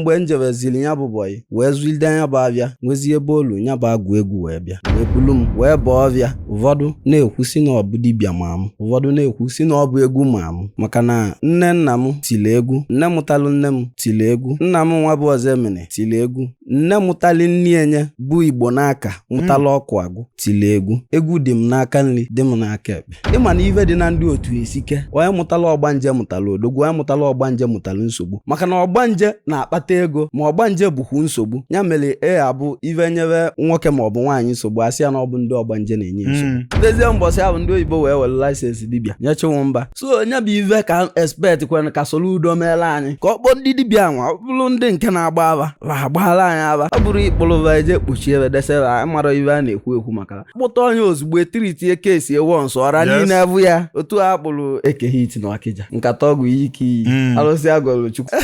mgbe m jebeziri ya bụ bọyị wee zụlide nya bụ afịa nwezie ebe o lu ya bụ agwụ egwu wee bịa wee bulu m wee baa ọfịa ụfọdụ na-ekwu si na ọ bụ dibịa ma m ụfọdụ na-ekwu si na ọ bụ egwu ma m maka na nne nna m tiri egwu nne mụtalụ nne m tiri egwu nna m nwa bụ Ozoemena tiri egwu nne mụtalụ nne enye bụ Igbonaka mụtala ọkụ agụ tiri egwu egwu dị m n'aka nri dị m n'aka ekpe ịma na ife dị na ndị otu esike onye mụtala ọgbanje mụtala odogwu onye mụtala ọgbanje mụtala nsogbu maka na ọgbanje na-akpata ego ma ọgbanje bụkwu nsogbu ya mere e abụ ife nyere nwoke ma ọ bụ nwaanyị nsogbu asị ya na ọ bụ ndị ọgbanje na-enye nsogbu hmm. dezie mbọsị ahụ ndị oyibo wee were license dibịa nye Chinwụba so nya bụ ife ka expect kwere ka Soludo meela anyị ka ọ kpọọ ndị dibịa nwa ọ bụrụ ndị nke na-agba afa va agbaala anyị afa ọ bụrụ ịkpụ arụ va eje kpuchie ebe desebe mara ife a na-ekwu ekwu maka kpụta onye ozugbo etiritie ka esi ewu nsọ ọra Yes. niile afụ ya otu a kpụrụ Eke Hit na ọkịja nkata ọgwụ iyi ike iyi Mm. alụsị agọlụ chukwu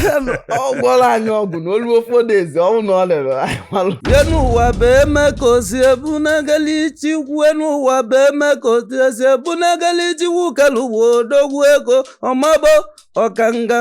ọ gwọrọ anyị ọgwụ na olu ofe odezi ọnwụ na ọ lere anyị malụ ye n'ụwa bụ eme ka osi ebu n'egeli ichi kwue n'ụwa bụ eme ka osi esi ebu n'egeli ichi wukelu uwe odogwu ego ọmabo ọkanga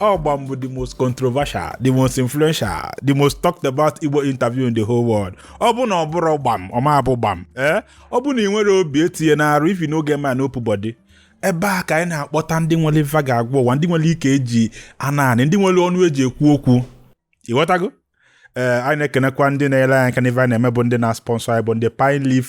O Gbam bụ the most controversial, the most influential, the most talked about Igbo interview in the whole world. Ọ bụ na ọ bụrọ gbam, ọ ma abụ gbam. Ee, eh? ọ bụ na ị nwerọ obi etinyena arụ if you no get mind no put body. Ebe a ka anyị na-akpọta ndị nwere ife fa ga-agwa ụwa, ndị nwere ike eji anọ anị, ndị nwere ọnụ eji ekwu okwu. Ịghọtago? Ee, eh, anyị na-ekenekwa ndị na-enyele anyị aka n'ife anyị na-eme bụ ndị na-sponsor anyị bụ ndị Pine Leaf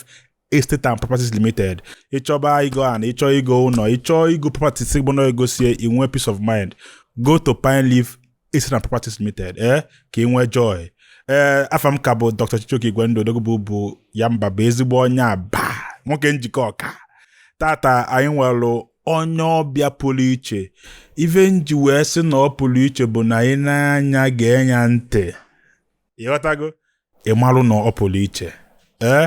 estate and properties limited ịchọba igo ana ịchọ igo ụlọ ịchọ igo properties bụ na e gosie i nwee peace of mind go to pine leaf estate and properties limited ee eh, ka ị nwee joy ee eh, afa m ka bụ dr chijioke igwendu odogwu bụ ya mba bụ ezigbo onye Abba nwoke Njikọka tata anyị nwelụ onye ọbịa pụrụ iche ife nji wee sị na ọ pụrụ iche bụ na anyị na nya ga-enya ntị ịghọtago ị marụ na ọ pụrụ iche ee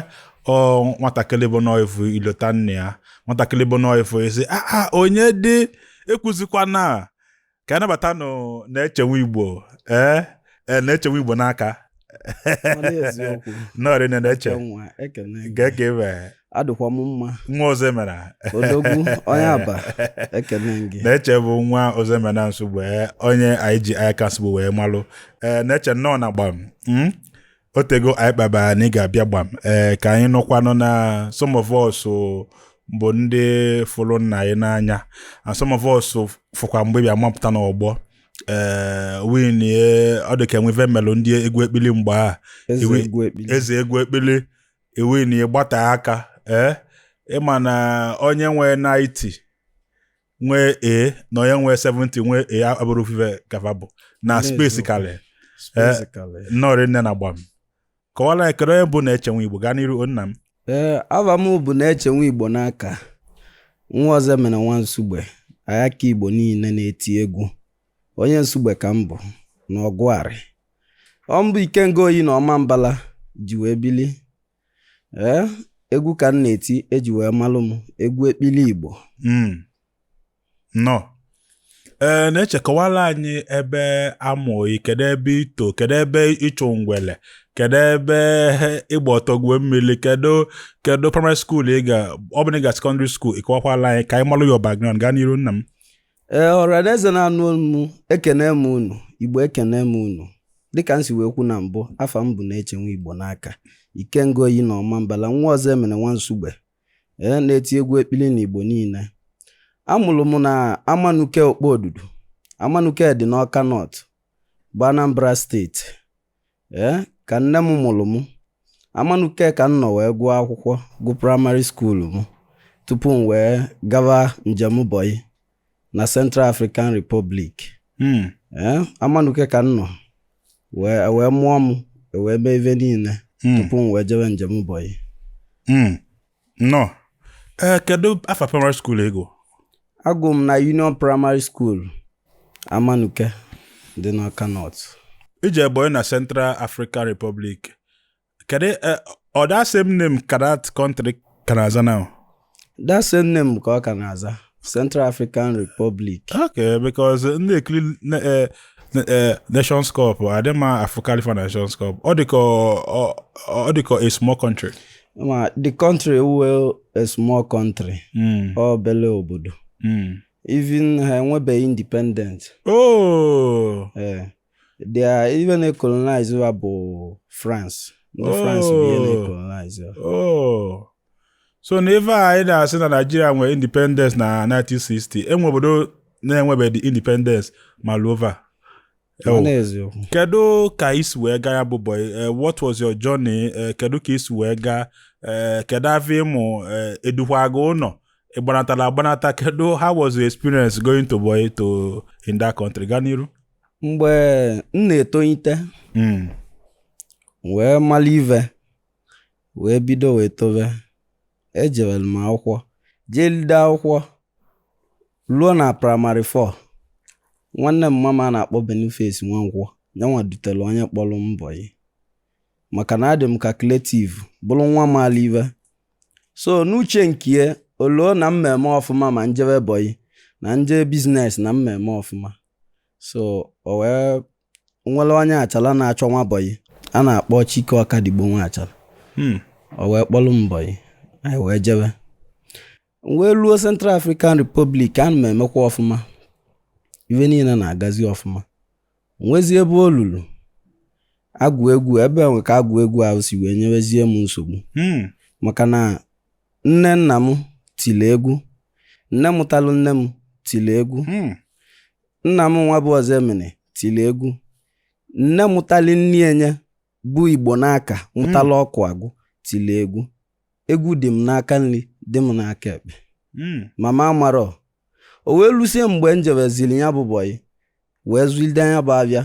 ọ nwatakịrị bụ na ị fụ ị lota nna ya nwatakịrị bụ na ị fụ ị sị aa ah, ah, onye dị ekwuzikwana ka a nabatanụ Neche nwa Igbo ee e, Neche nwa Igbonaka nnọọ rị Neche kee ke adịkwa m mma nwa Ozoemena odogwu onye Abba ekele gị Neche bụ nwa Ozoemena Nsugbe ee, onye anyị ji Ayaka Nsugbe wee malụ ee Neche nnọọ na gbam mm? otego anyị kpaba na ị ga-abịa gbam ee ka anyị nụkwanụ na some of us o, bụ ndị fụrụ nna gị n'anya and some of us o, fụkwa mgbe bịa mapụta n'ọgbọ ee when ọ dị ka enwe ife melụ ndị egwu ekpili mgba eze Iwe- egwu ekpili eze egwu ekpili e winie ị gbata aka ee eh? ịma na onye nwe 90 nwee a na onye nwe 70 nwee a abụrụ ofu ife ka fa bụ na space kalị eh? nnọọ rinne na gbam kọwala anyị kedu onye bụ neche nwaigbo gaa n'iru nna m ee eh, ava m bụ neche nwaigbo n'aka nwa ọzọemena nwa nsugbe ayaka igbo niile na-eti egwu onye nsugbe ka m bụ na ọgwarị ọ m bụ ikenga oyi na ọmambala ji wee bili ee egwu ka m na-eti eji wee malụ m egwu ekpili igbo Mm. nnọọ ee neche kọwala anyị ebe a mụ gị kedu ebe i to kedu ebe ị chụ ngwele kedu ebe ị gba ọtọ gwuo mmiri kedu kedu primary school ị ga ọ bụ na ị ga secondary school ị kọwakwala anyị ka anyị malụ your background gaa n'iru nna m ee ọranaeze na-anụ m ekene m unu igbo ekene m unu dịka m si wee kwu na mbụ afa m bụ neche nwaigbo n'aka ikenga oyi na ọmambala nwa ọzọemena nwa nsugbe ee na-eti egwu ekpili na igbo niile amụrụ m na amanuke okpo odudu amanuke dị n'ọka north bụ anambra steeti ee eh, ka nne m mụrụ m amanuke ka m nọ wee gụọ akwụkwọ gụ primary school m tupu m wee gawa njem boy na Central African Republic hmm. ee eh, amanuke ka m nọ e wee mụọ m e wee mee ife niile hmm. tupu m wee jewe njem boy hmm. Nnọọ. Ee, kedu afa primary school ị gụ? Agụ m na Union Primary School, Amanuke dị n'Ọka North. I je boy na Central African Republic. Kedu eh, ọ that same name ka that country ka na-aza now? That same name ka ọ ka na-aza. Central African Republic okay because m na-ekiri na- eh, na- eh, Nations Cup adị m afụkalị fa Nations Cup ọ dịka ọ- ọ dịka a small country ma the country wụ a small country Mm, obele obodo mm. even ha enwebe independent oh eh, There, even a colonized va bụ France. Ndị Oh. France bụ ihe na-ecolonize. Oh. so na ife a anyị na-asị na Nigeria nwere independence na 1960 enwe obodo na-enwebeghị independence ma lova Ọ na-eziokwu. kedu ka i si wee gaa ya bụ boy Eh, what was your journey Eh, kedu ka i si wee gaa Eh, kedu afọ ịmụ Eh, e dukwa gị ụlọ ị gbanatara agbanata kedu how was your experience going to boy to in that country gaa n'iru mgbe m na-etolite hmm. wee malụ ive wee bido wee tobe ejewelu m akwụkwọ jelide akwụkwọ luo na praịmarị 4 nwanne mama m a na-akpọ Boniface Nwankwọ yanwa dutelu onye kpọlụ m bọyị maka na adị m kalkuletiv bụrụ nwa malụ ive so n'uche nke o loo na m ma-eme ọfụma ma m jebe bọyị ma m jee biznes na m ma-eme ọfụma so o wee nwelu onye Achala na-achọ nwa bọyị a na-akpọ Chike Ọkadigbo nwa Achala hmm. o wee kpọlụ m bọyị anyị wee jebe wee luo Central African Republic ana m emekwa ọfụma ive niine na-agazi ọfụma nwezi ebe o lulu agwụ egwu ebe e nwe ka agwụ egwu ahụ si wee nyewezie m nsogbu hmm. maka na Nne nna m tili egwu. Nne mụtalụ nne m tili egwu. Hmm. Nna m nwa bụ Ọzọemena tili egwu. Nne mụtalụ nni enye bụ Igbonaka hmm. mụtalụ Ọkụagụ tili egwu. Egwu dị m n'aka nri dị m n'aka ekpe. Hmm. Mama amarọ o wee lusie mgbe m jebezili ya bụ bọyị wee zụlide nya bụ avịa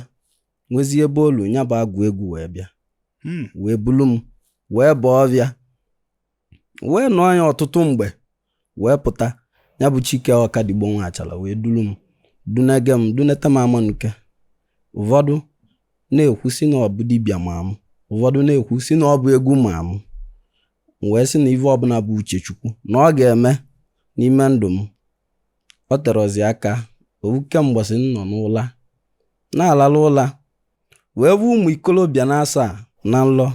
nwezie ebe o lu ya bụ agwụ egwu wee bịa wee bulu m wee baa ọvịa wee nọọ ya ọtụtụ mgbe wee pụta ya bụ Chike Ọkadigbo nwa Achala wee dulu m dunege m duneta m Amanuke ụfọdụ na-ekwu si na ọ bụ dibịa ma m ụfọdụ na-ekwu si na ọ bụ egwu ma m wee sị na ive ọbụna bụ uche Chukwu na ọ ga-eme n'ime ndụ m o terozi aka ovuke mbọsị m nọ n'ụla na-alalụ ụla wee vụ ụmụ ikolobịa na asaa na nlọ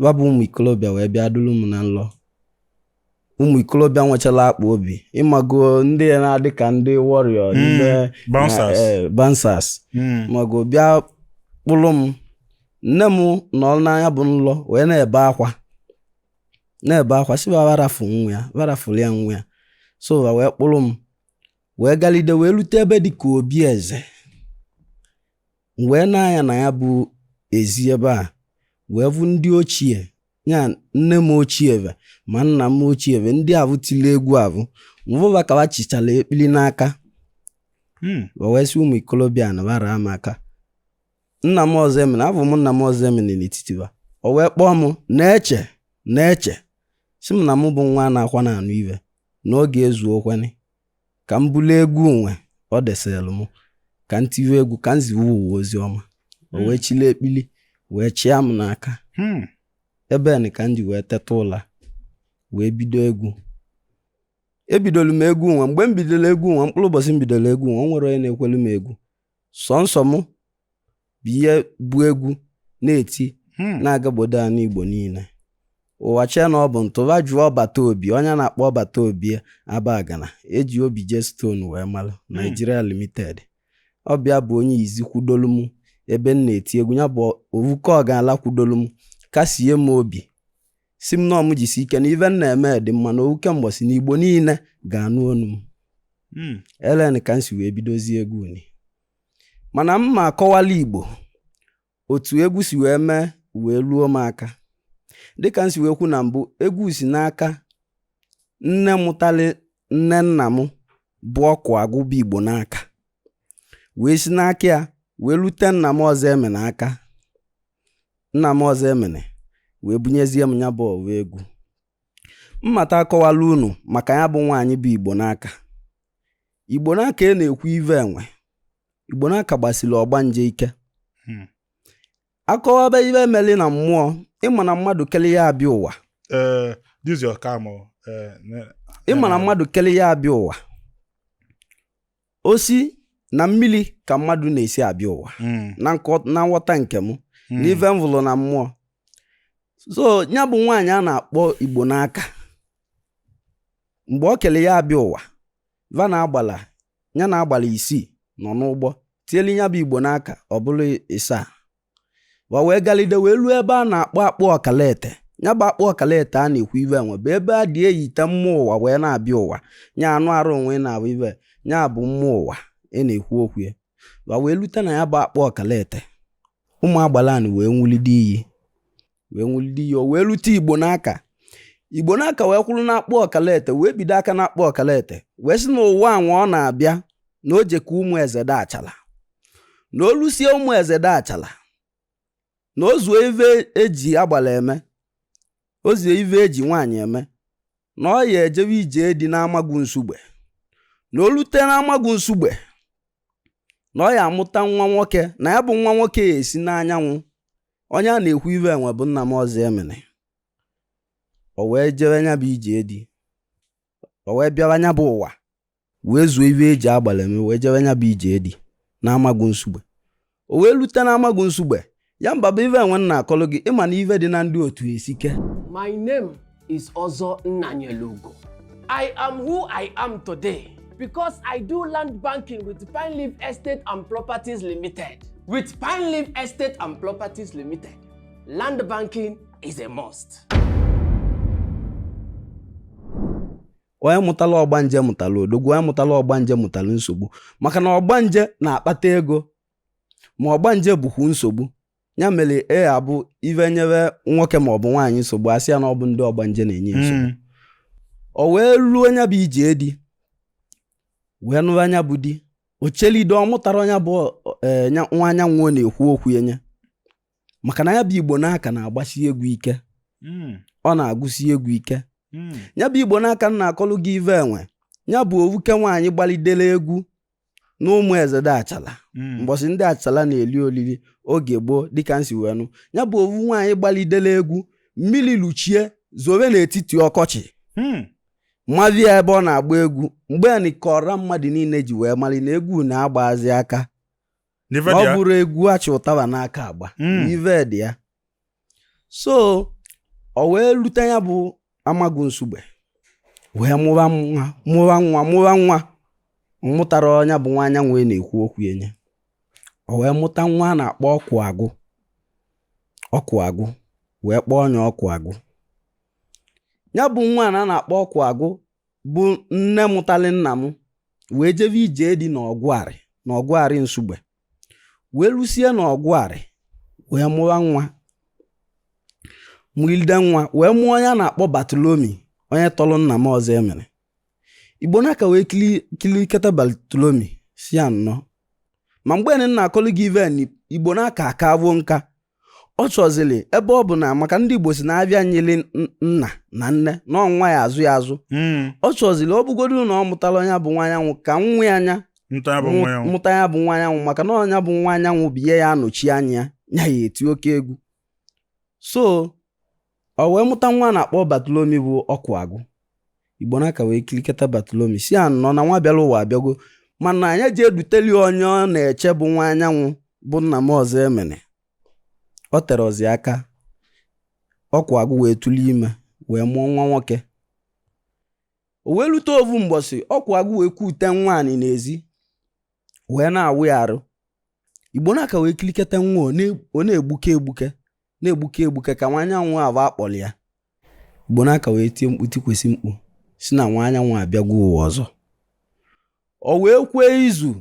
ba bụ ụmụ ikolobịa wee bịa dulu m na nlọ ụmụ ikolobịa nwechalu akpa obi ịmago ndị a na-adị ka ndị warrior Mm, n'ime bouncers. na- eh, bouncers Mm. mago bịa kpụlụ m nne m nọ na ya bụ nlọ wee na-ebe akwa na-ebe akwa sị ba rafụ nwa ya ba rafụlụ ya nwa ya so ba wee kpụlụ m wee galide wee lute ebe dị ka obi eze m wee nee anya na ya bụ ezi ebe a wee vụ ndị ochie ya nne m ochie ve ma nna m ochie ve ndị avụ tili egwu avụ m vụ ba ka ba chịchalụ ekpili n'aka hmm. wee sị ụmụ ikolobịa na ba raa m aka nna m Ọzọemena avụ m nna m Ọzọemena n'etiti ba o wee kpọọ m Neche Neche sị m na mụ bụ nwa na-akwa na anụ ive na oge ezuo okwenị ka m bulu egwu nwa o deseelu m ka m tiwe egwu ka m ziwe ụwa ozi ọma o hmm. wee chịlị ekpili wee chịa m n'aka hmm. ebe nị ka m ji wee teta ụla wee bido egwu ebidolu m egwu nwa mgbe m bidolu egwu nwa mkpụrụ ụbọsị m bidolu egwu nwa o nwelu onye na-ekwelu m egwu sọnsọ mụ bụ ihe bụ egwu na-eti hmm. na-agagbodo anị Igbo niine ụwa chee na ọ bụ ntụba jụọ ọbata obi onye a na-akpọ ọbata obi Abagana eji Obije Stone wee malụ hmm. Nigeria Limited ọ bụ ya bụ onye izi kwudolu m ebe m na-eti egwu ya bụ ovuke ọgala kwudolu m kasie m obi sị m na m jisi ike na ive m na-eme dị mma na ovuke mbọsị na Igbo niine ga-anụ onu m hmm. elen ka m si wee bidozie egwu ni mana m ma-akọwalị Igbo otu egwu si wee mee wee luo m aka dịka m si wee kwu na mbụ egwu si n'aka nne mụtali nne nna m bụ ọkụ agụ bụ Igbonaka wee si n'aka ya wee lute nna m Ọzọemena aka nna m Ọzọemena wee bunyezie m ya bụ ọwa egwu mmata akọwala unu maka ya bụ nwaanyị bụ Igbonaka Igbonaka a na-ekwu ive enwe Igbonaka gbasiri ọgbanje ike hmm. a kọwaba ive e meli na mmụọ ị ma na mmadụ kele ya abịa ụwa eh, eh, ị ma na mmadụ kele ya abịa ụwa o si na mmili ka mmadụ na-esi abịa ụwa mm. na nghọta nke m mm. n'ife m vụlụ na mmụọ so ya bụ nwaanyị a na-akpọ Igbonaka mgbe ọ kele ya abịa ụwa va na agbala ya na agbala isii nọ n'ụgbọ tielu ya bụ Igbonaka ọ bụlụ ịsaa wa wee galide wee luo ebe a na-akpọ akpụ ọkalete ya bụ akpụ ọkalete a na-ekwu ive enwe bụ ebe a dị eyite mmụọ ụwa wee na-abịa ụwa nya anụ arụ onwe na-abụ ive nya bụ mmụọ ụwa ị na-ekwu okwu ya wa wee lute na ya bụ akpụ ọkalete ụmụ agbala ni wee nwulide iyi wee nwụlide iyi o wee lute Igbonaka Igbonaka wee kwụrụ n'akpụ ọkalete wee bido aka n'akpụ ọkalete wee sị na ụwa anwa ọ na-abịa na o jeka Ụmụezede Achala na o lusie Ụmụezede Achala na o zuo ive eji agbala eme o zuo ive eji nwaanyị eme na ọ ya ejebe ije di n'Amagụ Nsugbe na o lute n'Amagụ Nsugbe na ọ ya amụta nwa nwoke na ya bụ nwa nwoke ya esi n'anyanwụ onye a na-ekwu ive enwe bụ nna m Ọzọemena o wee jebe nya bụ ije di o wee bịara nya bụ ụwa wee zuo ive eji agbala eme wee jebe nya bụ ije di na Amagụ Nsugbe o wee lute na Amagụ Nsugbe ya mba bụ ive enwe nna akọlụ gị ị ma na ive dị na ndị otu esike is Ozo Nnanyelugo. I am who I am today because I do land banking with Pine Leaf Estate and Properties Limited. With Pine Leaf Estate and Properties Limited, land banking is a must. onye mụtala ọgbanje mụtala odogwu onye mụtala ọgbanje mụtala nsogbu maka na ọgbanje na-akpata ego ma ọgbanje bụkwa nsogbu ya mere ya bụ ive nyebe nwoke ma ọ bụ nwaanyị nsogbu asị ya na ọ bụ ndị ọgbanje na-enye nsogbu Mm. o wee ruo nya bụ ije di wee nụba nya bụ di o chelido ọ mụtarọ nya bụ eh, nya- nwa anyanwụ a na-ekwu okwu ya nye maka na ya bụ Igbonaka na-agbasi egwu ike Mm. ọ na-agụsi egwu ike Mm. ya bụ Igbonaka m na-akọlụ gị ive enwe ya bụ owuke nwaanyị gbalidere egwu na Ụmụezede Achala Mm. mgbọsị ndị Achala na-eli olili oge gboo dịka m si wee nụ ya bụ ovu nwaanyị gbalidela egwu mmili luchie zobe n'etiti ọkọchị Hmm. maba ya ebe ọ na-agba egwu mgbe anị ka ọra mmadụ niile ji wee mali na egwu na-agbazi aka ọ bụrọ egwu a chị ụtaba n'aka agba Mm. ive dị ya so o wee lute ya bụ Amagu Nsugbe wee mụwa nwa mụwa nwa mụwa nwa mụtarọ nya bụ nwa anyanwụ a na-ekwu okwu enye o wee mụta nwa a na-akpọ ọkụ agụ ọkụ agụ wee kpọọ nya ọkụ agụ ya bụ nwa a na-akpọ ọkụ agụ bụ nne mụtali nna m wee jebe ije di n'Ogwari n'Ogwari Nsugbe wee rusie na Ogwari wee mụwa nwa mụlide nwa wee mụọ onye a na-akpọ Bartholomew onye tọrọ nna m Ọzọemena Igbonaka wee kiliketa Bartholomew sị ya nnọọ ma mgbe anị m na-akọlụ gị ive anị Igbonaka aka avụ nka ọ chọzili ebe ọ bụ na maka ndị Igbo sị na abịa nyịlị nna na nne na ọ nwa ya-azọ ya azọ hmm. ọ chọzili ọ bụgodu na ọ mụtarọ nya bụ nwa anyanwụ ka nwa nya mụta ya bụ nwa anyanwụ maka na ọ nya bụ nwa anyanwụ bụ onye ya-anọchi anya ya ya-eti oke egwu so O wee mụta nwa a na-akpọ Bartholomew bụ ọkụ agụ Igbonaka wee kiliketa Bartholomew sị ya nnọọ na nwa bịara ụwa abịago mana anya ji eduteli onye ọ na-eche bụ nwa anyanwụ bụ nna m Ọzọemena o terọzi aka ọkụ agụ wee tụli ime wee mụọ nwa nwoke o wee lute ovu mgbọsị ọkụ agụ wee kute nwa anị n'ezi wee na-awụ ya arụ Igbonaka wee kiliketa nwa ọ na-egbuke egbuke na-egbuke egbuke ka nwa anyanwụ ava akpọlị ya Igbonaka wee tie mkpu tikwesị mkpu sị na nwa anyanwụ abịagwo ụwa ọzọ o wee kwee izu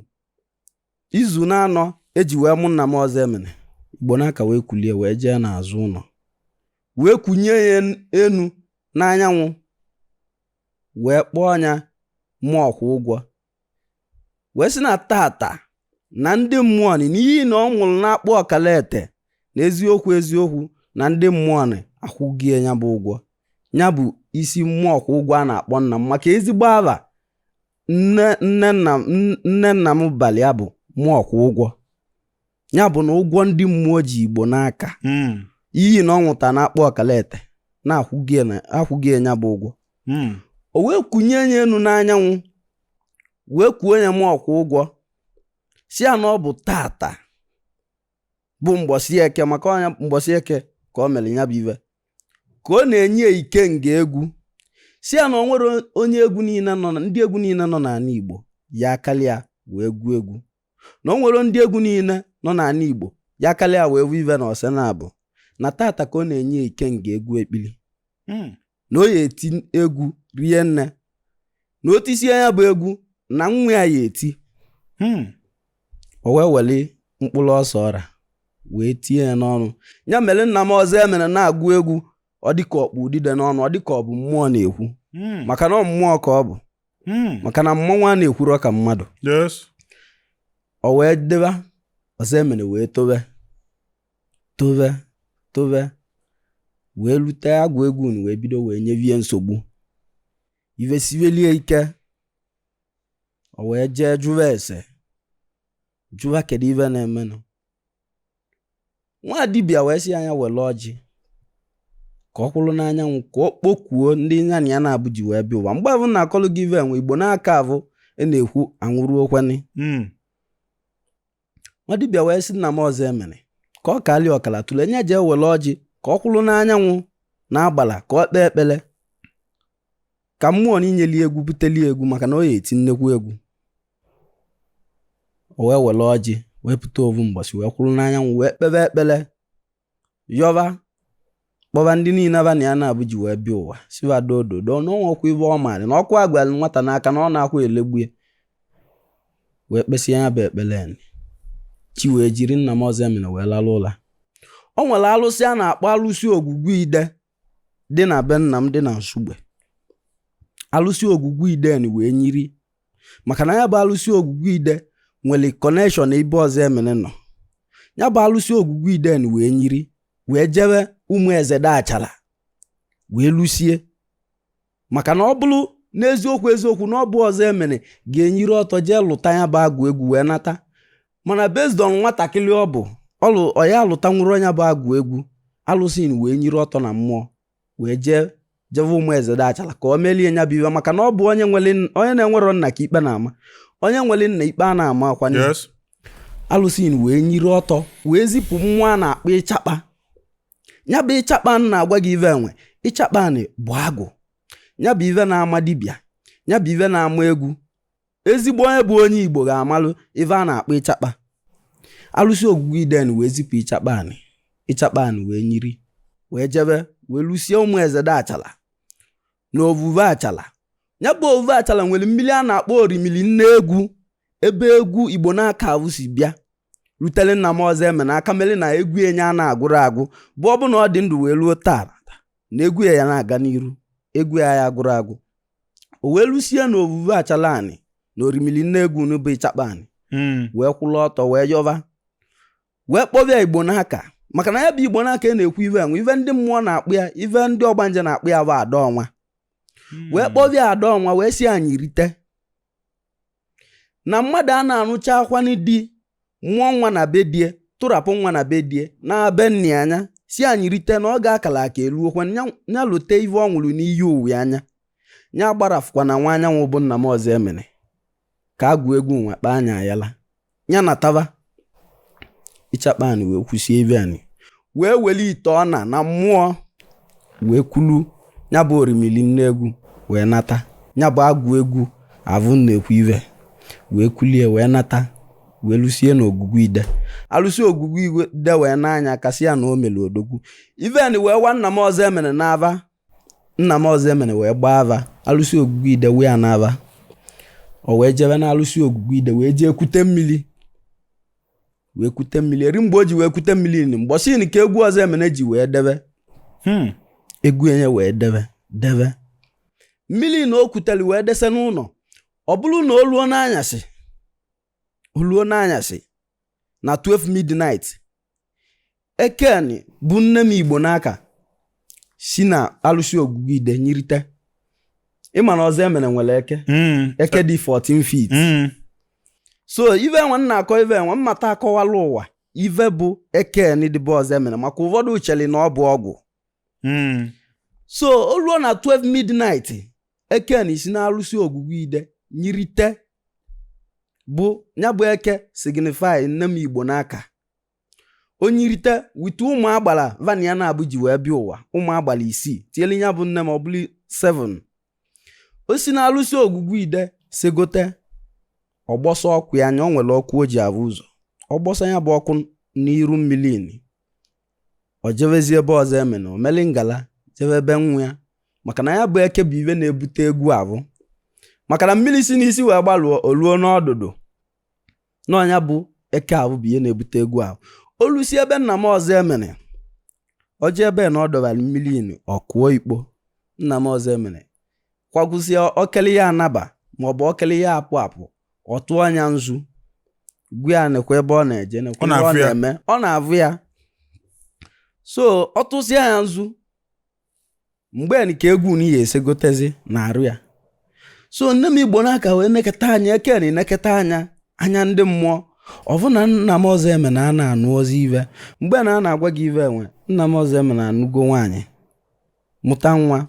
izu na-anọ eji wee mụ nna m Ozoemena Igbonaka wee kulie wee jee n'azụ ụnọ wee kunye ya enu n'anyanwụ wee kpọọ nya Mmụọkwụgwọ wee sị na tata na ndị mmụọ nị n'iyi na ọ ṅụrụ na-akpọ Ọkalete na eziokwu eziokwu na ndị mmụọ nị akwụgie ya bụ ụgwọ ya bụ isi Mmụọkwụgwọ a na-akpọ nna m maka ezigbo ava nne nna m balị ya bụ Mmụọkwụgwọ ya bụ na ụgwọ ndị mmụọ ji Igbonaka hmm. iyi na ọ ṅụta na-akpọ Ọkalete na akwụgie ya bụ ụgwọ hmm. o wee kunye ya enu n'anyanwụ wee kuo ya Mmụọkwụgwọ sị ya na ọ bụ tata bụ mgbọsị eke maka ọ nya mgbọsị eke ka ọ mere ya bụ ive ka ọ na-enye ikenga egwu sị ya na o nwerọ onye egwu niile nọ na ndị egwu niile nọ n'anị Igbo ya akalịa wee gụọ egwu na o nwerọ ndị egwu niile nọ n'anị Igbo ya akalịa wee vu ive na ọsị na-abụ na tata ka ọ na-enye ikenga egwu ekpili hmm. na o ya eti egwu rie nne na o tisie ya bụ egwu na nwa ya ya eti hmm. o wee weli mkpụrụ ose ọra wee tinye ya n'ọnụ ya mere nna m Ozoemena na-agụ egwu ọ dịka ọ kpụ udide n'ọnụ ọ dịka ọ bụ mmụọ na-ekwu hmm. maka na ọ mmụọ ka ọ bụ hmm. maka na mmọnwụ a na-ekwurọ ka mmadụ o wee deba Ozoemena wee tobe tobe tobe wee lute agwụ egwu wee bido wee nyevie nsogbu ive sivelie ike o wee jee jụwa ese jụwa kedu ive na-emenụ nwa dibịa wee sị nya wele ọjị ka ọ kwụrụ n'anyanwụ ka ọ kpokuo ndị nya na ya na-abụ ji wee bịa ụwa mgbe avụ na-akọlụ gị ive enwe Igbonaka avụ na-ekwu anwụrọkwanị hmm. nwa dibịa wee sị nna m Ozoemena ka ọ kalịa ọkala tụle nya jee wele ọjị ka ọ kwụrụ n'anyanwụ na agbala ka ọ kpee ekpele ka mmụọ nị nyeli egwu buteli egwu maka na ọ ya eti nnekwu egwu o wee wele ọjị wee pụta ovu mgbọsị wee kwụrụ n'anyanwụ wee kpebe ekpele yọba kpọba ndị niile aba na ya na-abụ ji wee bịa ụwa sị va dododo na o nwerọkwa ive ọ maara na ọkụ agwara nwata n'aka na ọ na-akwa elegbu ya wee kpesịa ya bụ ekpele ya chi wee jiri nna m Ozoemena wee lalụ ụla o nwere alụsị a na-akpọ alụsị Ogwugwu Ide dị na be nna m dị na Nsugbe alụsị ogwugwu ide ni wee nyiri maka na ya bụ alụsị ogwugwu ide nwere connection ebe Ozoemena nọ ya bụ alụsị ogwugwu ide ni wee nyiri wee jebe ụmụ eze dị achala wee lụsie maka na ọ bụrụ n'eziokwu eziokwu na ọ bụ Ozoemena ga-enyiri ọtọ jee lụta ya bụ agụ egwu wee nata mana based on nwatakịrị ọ bụ ọlụ ọ ya-alụta nwụrụ nya bụ agụ egwu alụsị wee nyiri ọtọ na mmụọ wee jee jebe ụmụ eze dị achala ka o melie nya bụ iwe maka na ọ bụ onye na-enwerọ nna ka ikpe na-ama onye nwere nna ikpe a na-ama akwanye alụsị wee nyiri ọtọ wee zipụ mmụọ a na-akpọ ịchakpa nya bụ ịchakpa na-agwa gị ive enwe ịchakpa anị bụ agụ nya bụ ive na-ama dibịa nya bụ ive na-ama egwu ezigbo onye bụ onye igbo ga-amalụ ive a na-akpọ ịchakpa alụsị ogwugwu ide ni wee zipụ ịchakpa anị ịchakpa anị wee nyiri wee jebe wee lụsie ụmụ eze dị achala na ovuve achala nya bụ ovuve achala nwere mmiri a na-akpọ orimili nne egwu ebe egwu igbo n'aka avụ si bịa rutere nna m Ozoemena aka mere na egwu enye a na-agwụrụ agwụ bụ ọ bụ na ọ dị ndụ wee ruo taa na egwu ya ya na-aga n'iru egwu ya ya agwụrụ agwụ o wee lụsie na ovuve achala anị na orimili nne egwu n'ụbụ ịchakpa anị hmm. wee kwụrụ ọtọ wee yọba wee kpọbịa igbo n'aka maka na ya bụ igbo n'aka ị na-ekwu ive enwe ive ndị mmụọ na-akpụ ya ive ndị ọgbanje na-akpụ ya bụ ada ọnwa hmm. wee kpọbịa ada ọnwa wee sị ya nyirite na mmadụ a na-arụcha akwa nụ di mụọ nwa na be die tụrapụ nwa na be die na be nnia nya sị ya nyirite na ọ ga-akala aka eluokwa ya lute ive ọ nwụrụ n'iyi uwe anya ya gbarafụkwa na nwa anyanwụ bụ nna m Ozoemena ka a gụọ egwu nwa kpaa anya ayala nya natava ịchakpa anị wee kwụsie ive anị wee weli ite ọna na mmụọ wee kwulu ya bụ orimili nne egwu wee nata ya bụ agụ egwu avụ na-ekwu ive wee kulie wee nata wee lụsie na ogwugwu ide alụsị ogwugwu ide wee naa nya aka sị ya na o mere odogwu ive ni wee wa nna m Ozoemena n'ava Nna m Ozoemena wee gbaa ava alụsị ogwugwu ide wee ya n'ava o wee jebe na alụsị ogwugwu ide wee jee kute mmiri wee kute mmiri eri mgbe o ji wee kute mmiri ni mgbọsị ni ka egwu Ozoemena ji wee debe Hmm. egwu enye wee debe debe mmiri na o kutere wee dese n'ụlọ ọ bụrụ na o ruo n'anyasị o luo n'anyasị na 12 midnight eke ni bụ nne m igbo n'aka si na alụsị ogwugwu ide nyirite ịma na Ozoemena nwere eke hmm. eke dị 14 feet hmm. so ive enwe na-akọ ive enwe mmata akọwala ụwa ive bụ eke ni dị be Ozoemena maka ụfọdụ ucheli na ọ bụ ọgwụ hmm. so o luo na 12 midnight eke ni si n'alụsị ogwugwu ide nyirite bụ nya bụ eke signify nne m Igbonaka o nyirite with ụmụ agbala va nya naabọ ji wee bịa ụwa ụmụ agbala isii tinyere ya bụ nne m ọ bụrụ 7 o si n'alụsị ogwugwu ide segote ọ gbọsa ọkụ ya anya o nwere ọkụ o ji avụ ụzọ ọ gbọsa nya bụ ọkụ n'iru mmiri o jevezi be Ọzọemena o meli ngala jeve be nwa ya maka na ya bụ eke bụ ive na-ebute egwu avụ maka na mmiri si n'isi wee gbaluo o luo n'ọdụdụ na ọ nya bụ eke avụ bụ ihe na-ebute egwu ahụ o lusie be nna m Ọzọemena o je ebe na ọ dọbara mmiri nu ọ kụọ ikpo nna m Ọzọemena kwagwụsịa okele ya anaba maọbụ okele ya apụ apụ ọ tụọ nya nzu gwa ya nekwa ebe ọ na-eje nekwa ebe ọ na-eme ọ na-avụ ya so ọ tụsịa ya nzu mgbe nke egwu na ihe esegotezi na arụ ya so nne m Igbonaka wee neketa anya eke ni neketa nya anya ndị mmụọ ọ vụ na nna m Ọzọemena a na-anụ ozi ive mgbe na a na-agwa gị ive enwe nna m Ọzọemena anụgo nwaanyị mụta nwa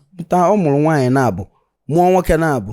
ọ mụrụ nwaanyị naabọ mụọ nwoke naabọ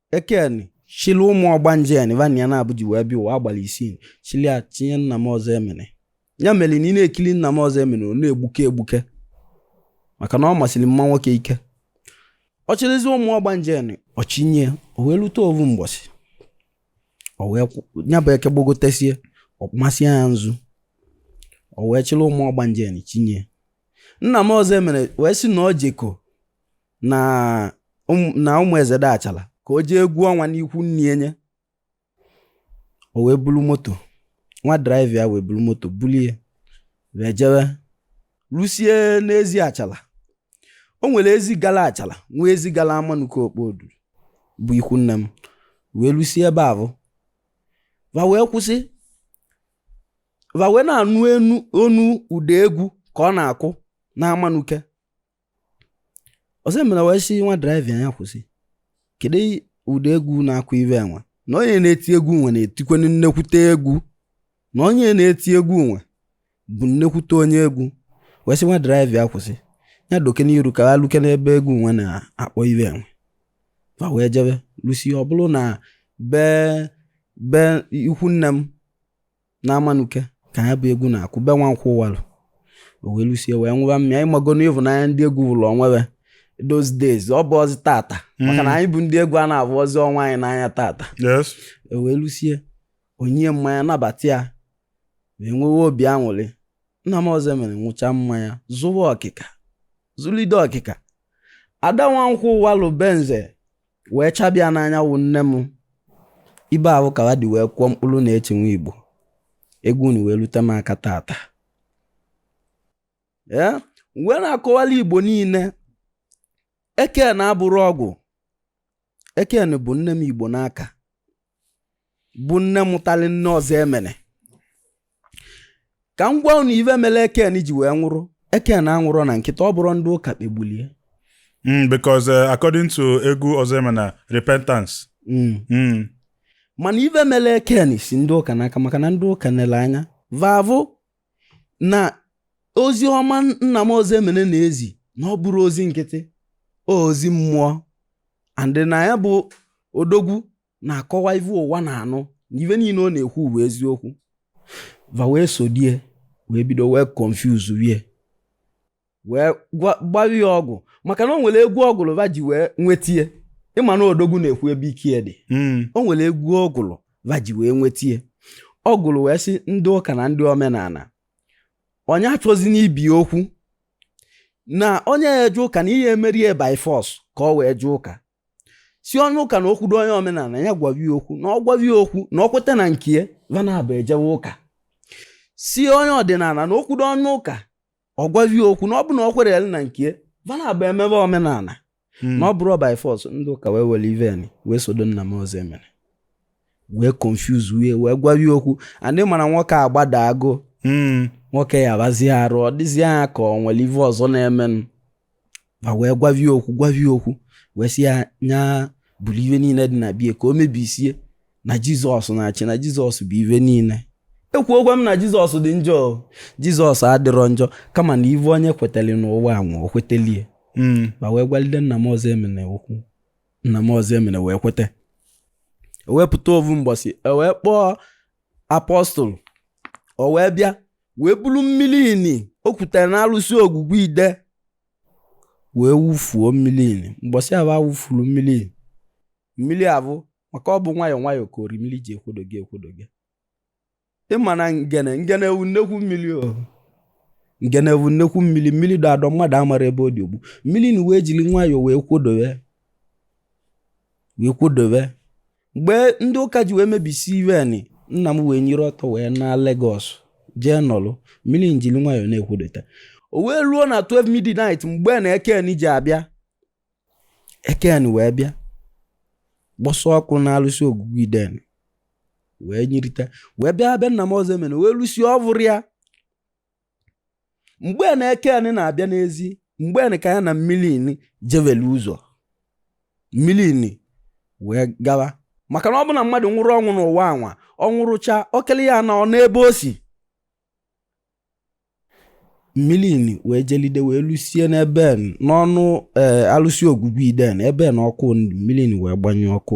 eke ni chili ụmụ ọgbanje ni va nya naabọ ji wee bịa ụwa agbala isii chili ya chinye nna m Ọzọemena ya mere na ị na-ekili nna m Ọzọemena ọ na-egbuke egbuke maka na ọ masịrị mma nwoke ike ọ chịrịzi ụmụ ọgbanje ni ọ chinye o wee lute ovu mbọsị o wee ya bụ eke gbogotesie ọ masịa ya nzu o wee chịrị ụmụ ọgbanje ya chinye nna m Ọzọemena wee sị na ọ jeko na ụm- na Ụmụezede achala ka o jee egwu ọnwa n'ikwu nne nye o wee bulu moto nwa driver ya wee bulu moto bulie wee jewe lusie n'ezi achala o nwere ezi gala achala nwee ezi gala amanuke okpodu bụ ikwu nne m wee lusie ebe ahụ va wee kwụsị va wee na-anụ onu ụda egwu ka ọ na-akụ n'amanuke Ọzọemena wee sị nwa driver ya kwụsị kedu ụdị egwu na-akụ ibe enwe na onye na-eti egwu nwe na-etikwenu nnekwute egwu na onye na-eti egwu nwe bụ nnekwute onye egwu wee sị nwa driver ya kwụsị ya doke n'iru ka ha luke n'ebe egwu nwe na-akpọ ibe enwe va wee jebe lusie ọ bụrụ na be be ikwu nne m n'amanuke ka ya bụ egwu na-akụ be nwankwọ walụ o wee lusie wee nwụba mmịa ịmago na ivunanya ndị egwu vụlụ onwe be those days ọ bụrọzi tata maka na anyị bụ ndị egwu a na-avụrọzi onwe anyị n'anya tata yes o wee lusie o nye mmanya nabata ya wee nwewe obi aṅụrị nna m ọzọemena nwụcha mmanya zụwa ọkịka zụlide ọkịka ada nwankwọ walụ benze wee chabịa n'anya wụ nne m ibe ahụ ka ba dị wee kwụọ mkpụrụ na-eti nwa igbo egwu nụ wee lute m aka tata ee wee na-akọwala igbo niile ekeni abụrọ ọgwụ ekeni bụ nne m igbo n'aka bụ nne mụtali nne ọzọemena ka m gwa unu ive mere ekeni ji wee nwụrụ ekeni anwụrọ na nkịtị ọ bụrọ ndị ụka kpegbulie Mm, because uh, according to egwu ọzọemena repentance. Mm. Mm. mana ive mere ekeni si ndị ụka n'aka maka na ndị ụka nele anya va vụ na ozi ọma nna m ọzọemena na-ezi na ọ bụrọ ozi nkịtị ozi mmụọ and na ya bụ odogwu na-akọwa ive ụwa na-anụ na ive niile ọ na-ekwu bụ eziokwu va wee sodie wee bido wee confuse wie wee gbawa ya ọgwụ maka na o nwere egwu ọ gụlụ va ji wee nwetie ịma na odogwu na-ekwu ebe ike dị hmm. o nwere egwu ọ gụlụ va ji wee nwetie ọ gụlụ wee sị ndị ụka na ndị omenala onye achọzina ibie okwu na onye eje ụka na emerọ ya by force ka o wee jee ụka si onye ụka na o kwudo onye omenala ya gwavi okwu na ọ gwavi okwu na ọ kweta na nke va na ba ejewe ụka si onye ọdịnala na o kwudo onye ụka ọ gwavie okwu na ọ bụrụ na ọ kwere ya na nke va na ba emebe omenala hmm. na ọ bụrọ by force ndị ụka wee were iveni wee sodo nna m ọzọemena wee confuse wie wee gwawie okwu and ị mara nwoke agbadago hmm. nwoke ọya abazie arụ ọ dịzie ya ka o nwere ive ọzọ na-emenụ va wee gwavie okwu gwavie okwu wee sị ya nya buru ive niile dị na bie ka o mebisie na jizọs na-achị na jizọs bụ ive niile ekwurọkwa m na jizọs dị njọ jizọs adịrọ njọ kama na ive onye kwetali n'ụwa anwụ o kwetelie hmm. va wee gwalide nna m ọzọemena okwu nna m ọzọemena wee kweta o wee pụta ovu mbọsị o wee kpọọ apọstụl o wee bịa wee buru mmiri nị o kutere na alụsị ogwugwu ide wee wufuo mmiri nị mbọsị ahụ a wufuru mmiri nị mmiri abụ maka ọ bụ nwayọọ nwayọọ ka orimiri ji ekwodo gị ekwodo gị ịma na ngene ngene ewu nnekwu mmiri o ngene ewu nnekwu mmiri mmiri dọ adọ mmadụ amara ebe ọ dị ogbu mmiri nị wee jiri nwayọọ wee kwodowe wee kwodowe mgbe ndị ụka ji wee mebisi ive nị nna m wee nyiri ọtọ wee na Lagos jee nọlụ mmiri njiri nwayọọ na-ekwodota o wee ruo na 12 midnight mgbe na eken ji abịa eken wee bịa gbọsọ ọkụ na alụsị Ogwugwu iden wee nyirita wee bịa abịa nna m Ọzọemena wee lụsi ọvụrụ ya mgbe na eken na-abịa na-ezi mgbe ahụ ka ya na mmiri ini jevele ụzọ mmiri ini wee gawa maka na ọ bụ na mmadụ nwụrụ ọnwụ n'ụwa anwa ọ nwụrụcha okele ya na ọ n'ebe o si mmiri ini wee jelide wee lụsie n'ebe n'ọnụ ee eh, alụsị Ogwugwu iden ebe na ọkụ mmiri ini wee gbanye ọkụ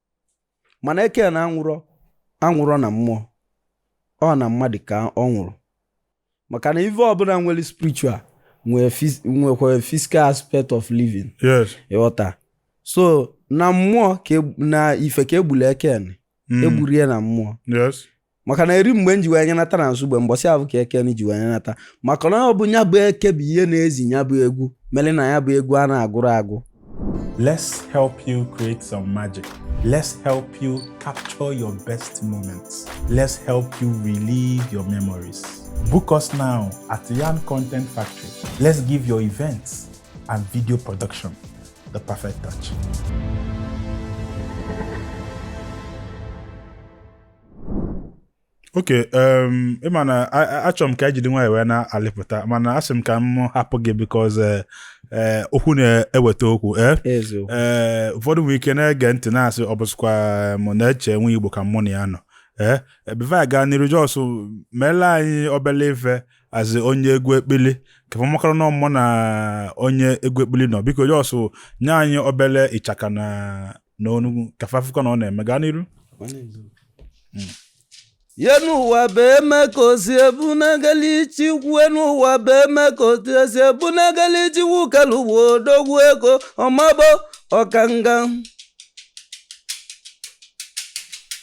mana eken anwụrọ anwụrọ na mmụọ ọ na mmadụ ka ọ nwụrụ maka na ife ọbụna nwere spiritual nwekwara physical aspect of living ị ghọta so na mmụọ e, n'ife ka e gburu eken hmm. egburo ya na mmụọ maka na eri mgbe m ji wee nyenata na Nsugbe mbọsị avụ ka eken ji wee nyenata maka na ọ bụ nya bụ eke bụ ihe na-ezi ya bụ egwu mere na ya bụ egwu a na-agụrụ agụ let's help you create some magic let's help you capture your best moments let's help you relive your memories book us now at Yarn Content Factory let's give your events and video production the perfect touch okay um, ịma na achọrọ m ka e jiri nwayọ wee na-alịpụta mana asị m ka m hapụ gị because eh, eh, okwu na-eweta okwu eh? ụfọdụ nwere ike na-ege ntị na-asị ọ bụsịkwa Neche Nwaigbo ka mụ na ya nọ ee before anyị gaa n'iru just meela anyị obele ife as onye egwu ekpili ka fa makwara na ọ mụ na onye egwu ekpili nọ biko just nye anyị obele ịchaka na na ọnụ egwu ka fa fụkwa na ọ na-eme gaa n'iru ye n'ụwa bụ eme ka osi ebunagalị Chikwu n'ụwa bụ eme ka otu esi ebunagalị Chikwu kelu ụwa odogwu ego ọmabo ọkanga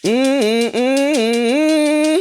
Mm, mm, mm, mm.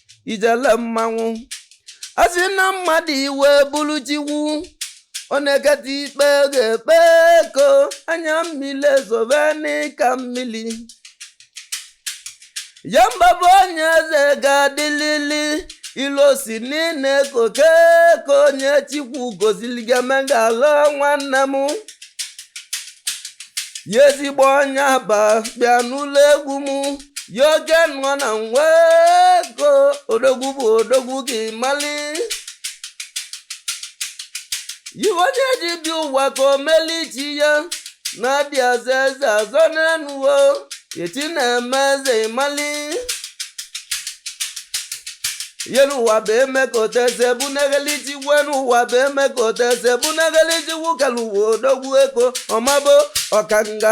ijele mmanwụ asị na mmadụ iwe bụrụ Chikwu ọ na-eketa ikpe ga-ekpe ego anya mmiri ezobe nị ka mmiri ya mbabụ onye eze ga-adịlili ilu osi niile koke ka onye Chikwu gozili ga-emegala nwanne m ya ezigbo onye aba bịa n'ụlọ egwu m ya oke nwa na nwa Eko odogwu bụ odogwu gị mali ive onye ji bi ụwa ka o meli chi ya na-adị azọ eze azọ n'enu ụwa o chi na-eme eze ị mali ihe n'ụwa bụ eme ka oteze bụ na-ekeli chi ive n'ụwa bụ eme ka oteze bụ na-ekeli Chiwu kelu ụwa odogwu Eko ọmabo ọkanga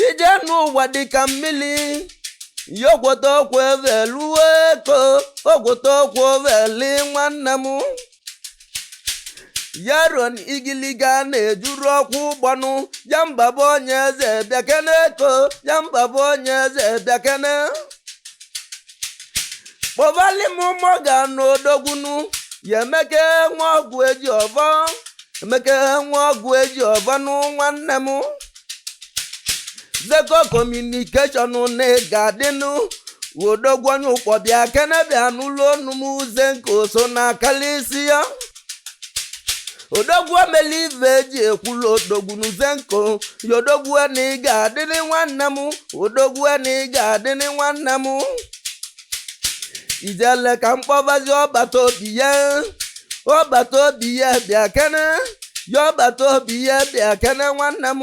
ije n'ụwa dịka mmili ya gwọta okwu ebelu Eko ọ gwọta okwu ebeli nwanne m ya ruo na igiliga na-ejuru ọkwụ ụgbọnụ ya mbaba onye eze bịakene Eko ya mbaba onye eze bịakene kpọbali m ụmụ ọga na odogwu nụ ya Emeka nwa Ọgụejiọvọ Emeka nwa Ọgụejiọvọ nụ nwanne m Zeko communication na ị ga-adịnụ odogwu onye Ụkpọ bịa kene bịa n'ụlọ onu m uze nke oso na akalisia odogwu emeli ive eji ekwulu odogwu n'uze nkụ ya odogwu na ị ga-adịrị nwanne m odogwu na ị ga-adịrị nwanne m ijele ka m kpọbazi ọbata obie ọbata obie bịa kene ya ọbata obie bịa kene nwanne m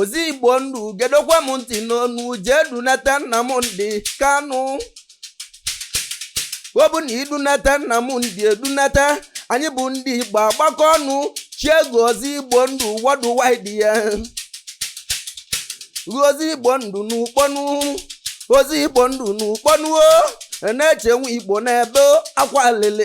ọzọ igbo ndụ gedokwa m ntị n'ọnụ jee dunata Nnamdi Kanu ọ bụ na i dunata Nnamdi e dunata anyị bụ ndị igbo agbakọ ọnụ chie gị ọzọ igbo ndụ worldwide ya ọzọ igbo ndụ n'Ụkpọ nụ ọzọ igbo ndụ n'Ụkpọ nụ o Neche nwa igbo na-ebe akwa lele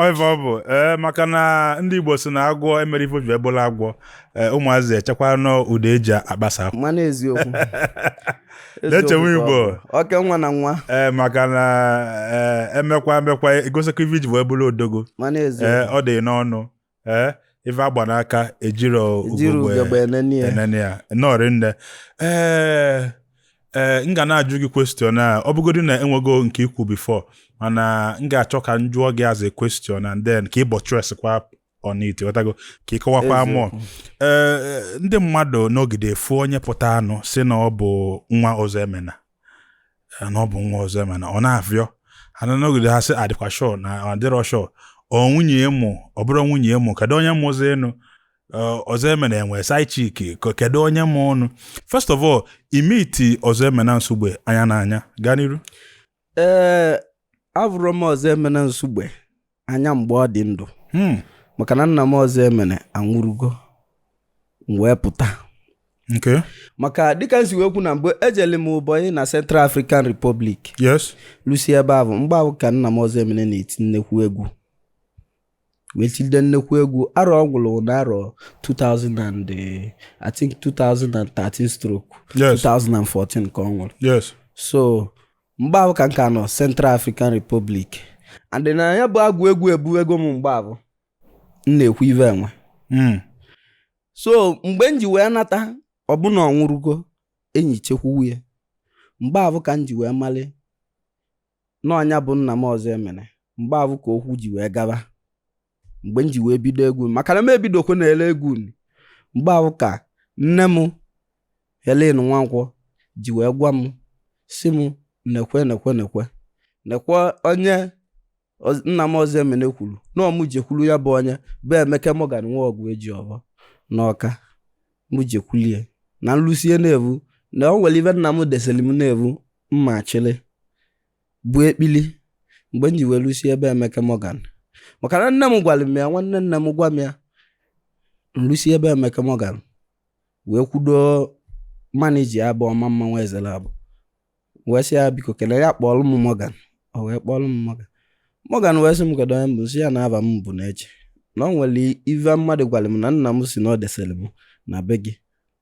Ọ ive ọ bụ ee maka na ndị Igbo si na agwọ emerọ ife o ji wee bụlụ agwọ ee, ụmụazị echekwa na ụdọ eji agbasa akwa. mana eziokwu Neche nwa Eziokwu ka ọ Igbo. bụ. oke nwa na nwa ee maka na ee, emekwa emekwa i gosikwa ife i ji wee bụrụ odogwu mana ee eziokwu ọ dị n'ọnụ ee ife agba n'aka ejiro ejiri ugegbe ugegbe enene ya enene ya nnọọ rinne ee ee m ga na-ajụ gị question a ọ bụgodị na enwego nke i kwu before mana m ga-achọ ka m jụọ gị as a question and then ka ị buttress kwa on it ghọtago ka ị kọwakwa Eziokwu. mụọ ee ndị mmadụ nọgide efu onye pụta anụ si na ọ bụ nwa Ọzọemena na ọ bụ nwa Ọzọemena ọ na-afịọ ha na nọgide ha sị adịkwa sure na adịrọ sure ọ nwunye ya mụ ọ bụrọ nwunye ya mụ kedu onye mụzi ụnụ Ọzọemena enwe side chick kedu onye mụ ụnụ first of all i meet Ọzọemena Nsugbe anya na anya gaa n'iru ee avụrụ m Ọzọemena Nsugbe anya mgbe ọ dị ndụ hmm. maka na nna m Ozoemena anwụrụgo m wee pụta maka dịka m si wee kwu na mgbe ejele m boyị na Central African Republic yes lusi ebe ahụ mgbe ahụ ka nna m Ozoemena na-eti nnekwu egwu wee tilide nnekwu egwu arọ ọ nwụrụ na arọ 2000 and eh, I think 2013 stroke 2014 ka ọ nwụrụ so mgbe ahụ ka m ka nọ Central African Republic and na ya bụ agwụ egwu ebuwego m mgbe ahụ m na-ekwu ive enwe hmm. so mgbe m ji wee nata ọ bụ na ọ nwụrụgo e nichekwuo ya mgbe ahụ ka m ji wee mali n'ọ nya bụ nna m Ozoemena mgbe ahụ ka okwu ji wee gaba mgbe m ji wee bido egwu maka na m ebidokwa na-ele egwu mgbe ahụ ka nne m Helen Nwankwọ ji wee gwa m sị m nekwe nekwe nekwe nekwe onye nna m Ozoemena kwuru na ọ mụ jekwuru ya bụ onye bụ Emeka Morgan nwa Oguejiọfọ n'Ọka mụ jekwulie na m lusie n'eevụ na o nwere ive nna m desịrị m n'eevụ mma chịrị bụ ekpili mgbe m ji wee lusi ebe Emeka Morgan maka na nne m gwara m ya nwanne nne m gwa m ya m lusi ebe Emeka Morgan wee kwudo manager ya bụ ọma mma nwa ezela abụ wee sị ya biko kele ya kpọọlụ m Morgan o wee kpọọlụ m Morgan Morgan wee sị m kedu onye m bụ sị ya na ava m bụ Neche na o nwere ive mmadụ gwara m na nna m sị na ọ desịrị m na be gị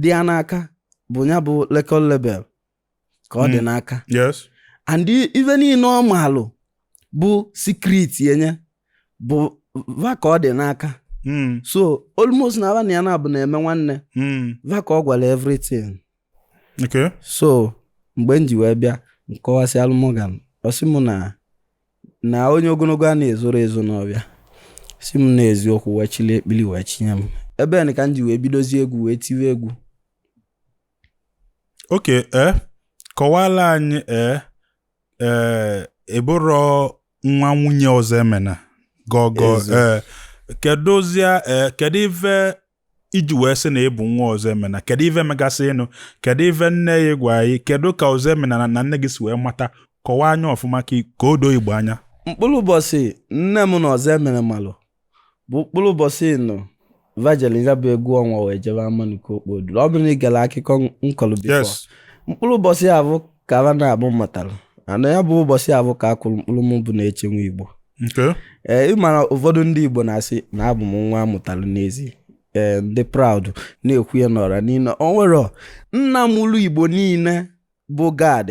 dị ya n'aka bụ ya bụ record label ka ọ dị hmm. n'aka yes and ive niile ọ maalụ bụ secret enye bụ va ka ọ dị n'aka hmm. so almost na va na ya na-abụ na-eme nwanne hmm. va ka ọ gwara everything okay so mgbe m ji wee bịa m kọwasịalụ Morgan ọ sị mụ na na onye ogologo a na-ezoro ezo n'ọvịa sị m n'eziokwu wee chili ekpili wee chinye m ebe nị ka m ji wee bidozie egwu wee tiwe egwu okay ee eh, kọwala anyị ee eh, ee eh, ị bụrọ nwa nwunye Ozoemena gọgọ ee kedụzia ee kedu ive i ji wee sị na ị bụ nwa Ozoemena kedu ive megasịnụ kedu ive nne yị gwa yị kedu ka Ozoemena na nne gị si wee mata kọwaa nya ọfụma ka o doo Igbo anya mkpụrụ ụbọchị nne m na Ozoemena malụ bụ mkpụrụ ụbọchị n'ọ va jeli ya bụ egwu ọnwa wee jebe amanike okpodu ọ bụrụ na ị gara akụkọ m kọlụ before mkpụrụ ụbọchị ya bụ ka ala na-abụ matara ana ya bụ ụbọsị afụ ka a kụrụ mkpụrụ m bụ Neche Nwa Igbo ee ị mara ụfọdụ ndị igbo na-asị na abụ m nwa amụtara n'ezi ee ndị proud na-ekwu ya n'ọra niile o nwere nna mụlụ igbo niile bụ Gad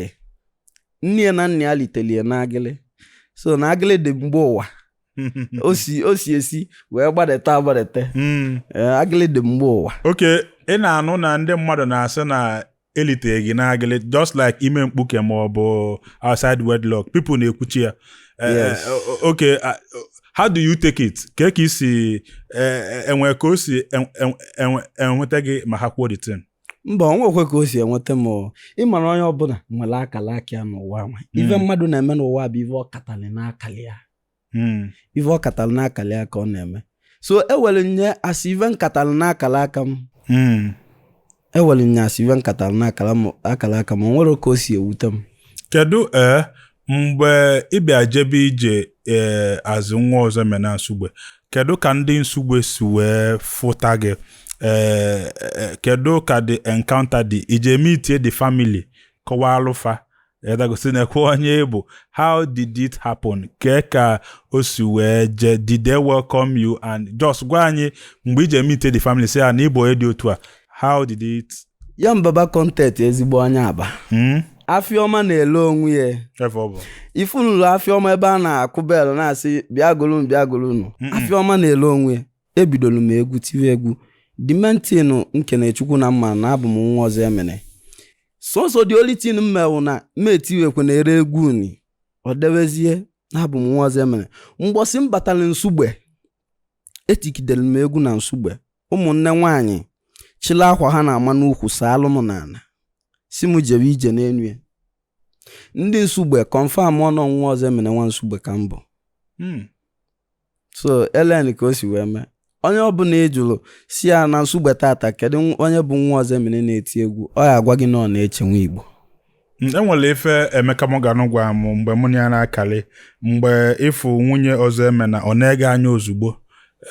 nne ya na nna ya liteli ya na agịlị so na agịlị dị mgbe ụwa o si o si esi wee gbadata agbadata hmm. eh, agịlị dị mgbe ụwa okay ị na-anụ na ndị mmadụ na-asị na elitere gị n'agịlị just like ime mkpuke ma ọ bụ outside wedlock people na-ekwuchi ya Eh, Yes. eh, o- o- okay ah, o- how do you take it ka ka i si eh, eh, enwe ka o si en- en- enwe- enweta gị ma ha kwuo the thing mba ọ nwekwe ka o si enweta m o. ị mara onye ọbụla nwere akala aka ya n'ụwa nwa ife Mm. mmadụ na-eme n'ụwa bụ ife ọ katali n'akala ya hmm. ife ọ katara n'akala ya ka ọ na-eme so e were na-asị ife m katara n'akara aka m hmm. e were na-asị ife m katara n'akara aka m o nwerọ ka o si ewute m kedu ee eh, mgbe ị bịa jebe ije ee eh, as nwa Ozoemena nsugbe kedu ka ndị nsugbe si wee fụta gị ee eh, kedu ka the encounter dị i je meet the family kọwaalụ fa edagosi nekwe onye ị bụ how did it happen kee ka o si wee jee did they welcome you and just gwa anyị mgbe i je meet the family sị ya na ị bụ onye dị otu a how did it ya mbaba content ezigbo onye aba hmm? afịa ọma na-ele onwe ya ebe ọ bụ ị fụnụlụ afịa ọma ebe a na-akụ bell na-asị bịa golunu bịa golunu Hmm. afịa ọma na-ele onwe ya ebidoro m egwu tiwe egwu dimentinu nke na-echekwu na m ma na abụ m nwa Ozoemena sọsọ the only thing m ma wụ na m etiwekwe na ere egwu uni ọ dewezie na abụ m nwa Ozoemena mbọsị m batara nsugbe etigidere m egwu na nsugbe ụmụnne nwaanyị chịla akwa ha na-ama n'ukwu saalụ m n'ala sị m jebe ije n'elu ya ndị nsugbe confirmụọ na nwa Ozoemena nwa nsugbe ka m bụ hmm. so elen ka o si wee mee onye ọbụla ị jụrụ sị ya na nsugbe tata kedu nw- onye bụ nwa Ozoemena na-eti egwu ọ ya-agwa gị na ọ Neche Nwa Igbo Mm, e nwere ife emeka morgan gwara m mgbe mụ na ya na-akarị mgbe ị fụ nwunye Ozoemena ọ nee gị anya ozugbo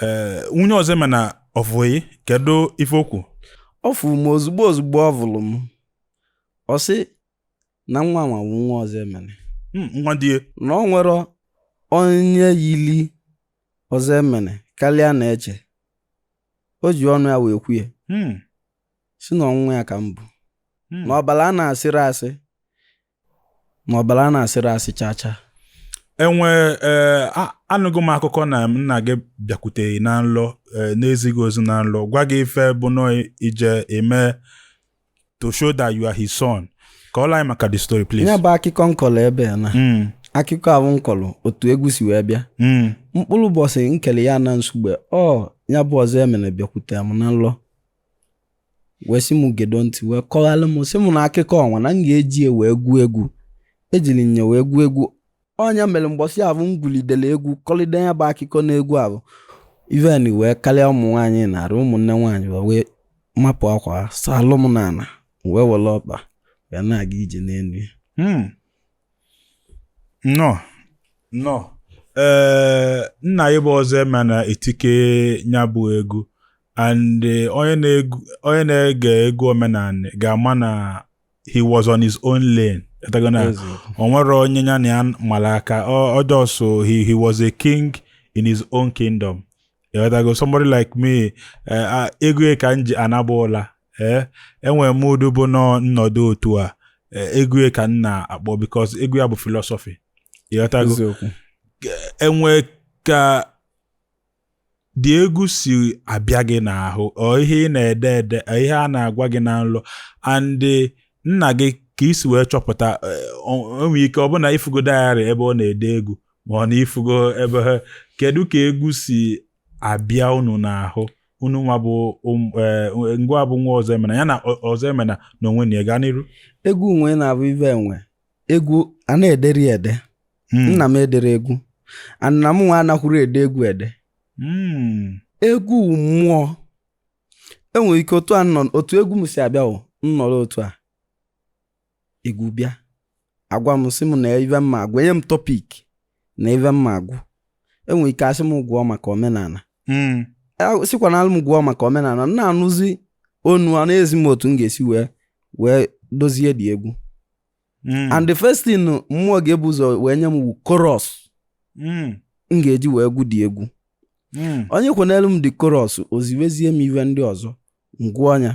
ee nwunye Ozoemena ọ fụ gị kedu ife okwu ọ fụrụ m ozugbo ozugbo ọ vụrụ m ọ sị na nwa nwa bụ nwa Ozoemena hmm, nwa di ya. na o nwerọ onye yili Ozoemena karịa Neche o ji ọnụ ya wee kwuye hmm. sị na ọ nwa ya ka m bụ hmm. na ọbara a na-asịrị asị na ọbara a na-asịrị asị chaa chaa enwe e, anụgo m akụkọ na nna gị bịakwute gị na nlọ e, na-ezi gị ozi na nlọ gwa gị ife bụ na ị je-eme to show that you are his son kọọlụ anyị maka the story please ya bụ akụkọ nkọlọ ebe a na mm. akụkọ ahụ nkọlọ otu egwu si wee bịa mm. mkpụrụ ụbọchị nkele ya na Nsugbe ọ ya bụ Ozoemena bịakwute m na nlọ wee sị m gedo ntị wee kọghalụ m sị m na akụkọ ọnwa na m ga-eji ya wee gụọ egwu ejiri nya wee gụọ egwu ọ nya mere mgbọsị ahụ m gwulidere egwu kọlide ya bụ akụkọ n'egwu ahụ even wee karịa ụmụ nwaanyị narị ụmụnne nwaanyị wee mapụ akwa salụ m n'ala wee were ọkpa wee na-aga ije n'elu hmm. nnọọ nnọọ ee eh, nna ya bụ Ozoemena etike ya bụ egwu and eh, onye na-ege egwu omenala ga-ama na he was on his own lane ịghọtago na o nwerọ onye ya na ya mara aka ọjọọ so he, he was a king in his own kingdom ịghọtago somebody like me eh, egwu ya ka m ji anaba ụla ee eh, enwe mood bụ na m nọdụ otu a eh, egwu ya ka m na-akpọ because egwu ya bụ philosophy ịghọtago enwe ka the egwu si abịa gị n'ahụ ọ ihe ị na-ede ede ọ ihe a na-agwa gị na nlọ and nna gị ka i si wee chọpụta o nwe ike ọ bụ na ifugo diary ebe ọ na-ede egwu ma ọ na ifugo ebe ha kedu ka egwu si abịa unu n'ahụ unu nwa bụ ngịnwa bụ nwa Ozoemena ya na Ozoemena n'onwe nya gaa n'iru egwu nwa ị na-avụ ive enwe egwu a na-ederi ede hmm. nna m ederọ egwu na mụnwa anakwurọ ede egwu ede hmm. egwu mmụọ enwere ike otu a otu egwu m si abịa wụ nnọrọ otu a egwu bịa agwa m sị m na ive mma agwụ enye m topic na ive mma agwụ enwere ike asị m gụọ maka omenala hmm. e, sikwa na nlọ m gụọ maka omenala na-anụzi onu a na-ezi m otu m ga-esi wee wee dozie the egwu Mm. and the first thing mmụọ ga-ebu ụzọ wee nye m wụ chorus mm. m ga-eji wee gụ the egwu mm. o nyekwenelu m the chorus o ziwezie m ive ndị ọzọ ngwa ọ nya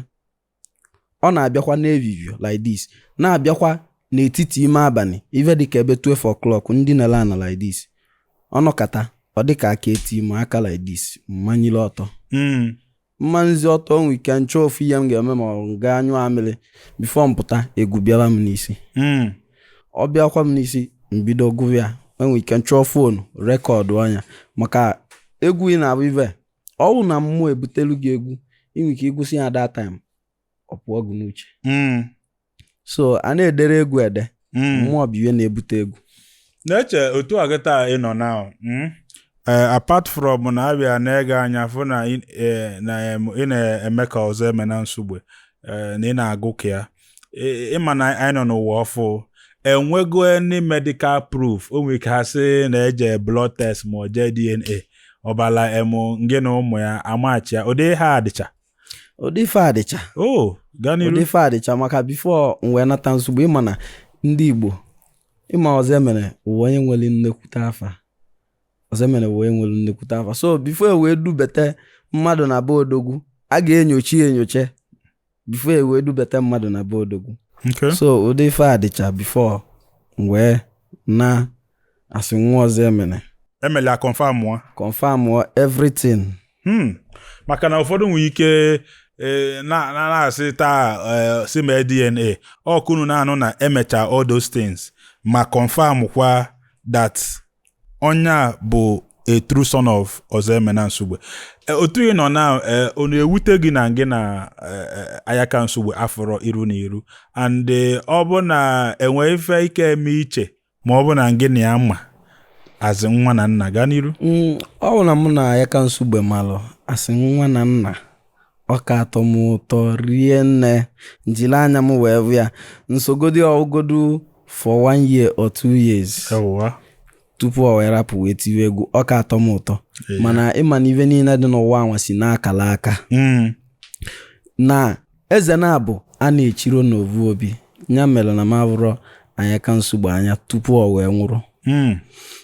ọ na-abịakwa n'evivie like this na-abịakwa n'etiti ime abalị ive dịka ebe 12 o'clock ndinele ana like this ọ nọkata ọ dịka aka eti m aka like this mmanyile ọtọ mmanizie ọtọ nwe ike nchọọ ofu ihe m ga-eme ma ọ gaa anyụ amịrị before m pụta egwu bịara m n'isi hmm. ọ bịakwa m n'isi mbido gụwa ya enwe ike nchọọ phone recordụa nya maka egwu ị na-avụ ive ọ wụ na mmụọ ebutelu gị egwu i nwe ike ịgụsị ya that time ọ pụọ gị n'uche hmm. so a na-edere egwu ede hmm. mmụọ bụ ihe na-ebute egwu Neche otu a gị taa ị nọ now hmm? eh, apart from na abịa nee gị anya fụ na ị eh, na-eme ka Ozoemena Nsugbe eh, na ị na-agụ ka ya ịma na anyị nọ n'ụwa ọfụ enwego any medical proof o nwere ike ha sị na eje blood test ma ọ jee DNA ọbala emu ngị na ụmụ ya amachi ya ụdị ihe a dịcha ụdị ife a dịcha oh, ụdị ife a dịcha maka before m wee nata Nsugbe ịma na ndị Igbo ịma Ozoemena bụ onye nwere nnekwute afa Ozoemena bụ onye nwere nnekwute afa so before e wee dubete mmadụ na be odogwu a ga-enyocha enyocha before e wee dubete mmadụ na be odogwu so ụdị ife a dịcha before m wee na asị nwa Ozoemena emele a confirm mụọ confirm mụọ everything hmm. maka na ụfọdụ nwere ike e, na-asị taa e, si mee DNA ọ kwa ụnụ na-anụ na emecha all those things ma confirm kwa that onye a bụ a true son of Ozoemena Nsugbe eh, otu ị nọ now eh, ọ na-ewute gị na gị na eh, Ayaka Nsugbe afụrọ iru na iru and ọ bụ na enwe ife ị ka eme iche ma ọ bụ na gị na ya ma as nwa na nna gaa n'iru mm, ọ bụ na mụ na Ayaka Nsugbe malụ as nwa na nna ọ ka atọ m ụtọ rie nne m jiri anya m wee vụ ya m sogodi ya gụgodu for one year or two years tupu ọ wee rapụ wee tiwe egwu ọ ka atọ m ụtọ mana ịma na ive niile dị n'ụwa anwa si n'akala aka mm. na Eze naabọ a na-echiro n'ovu obi ya mere na m avụrọ Ayaka Nsugbe anya tupu ọ wee nwụrụ Hmm.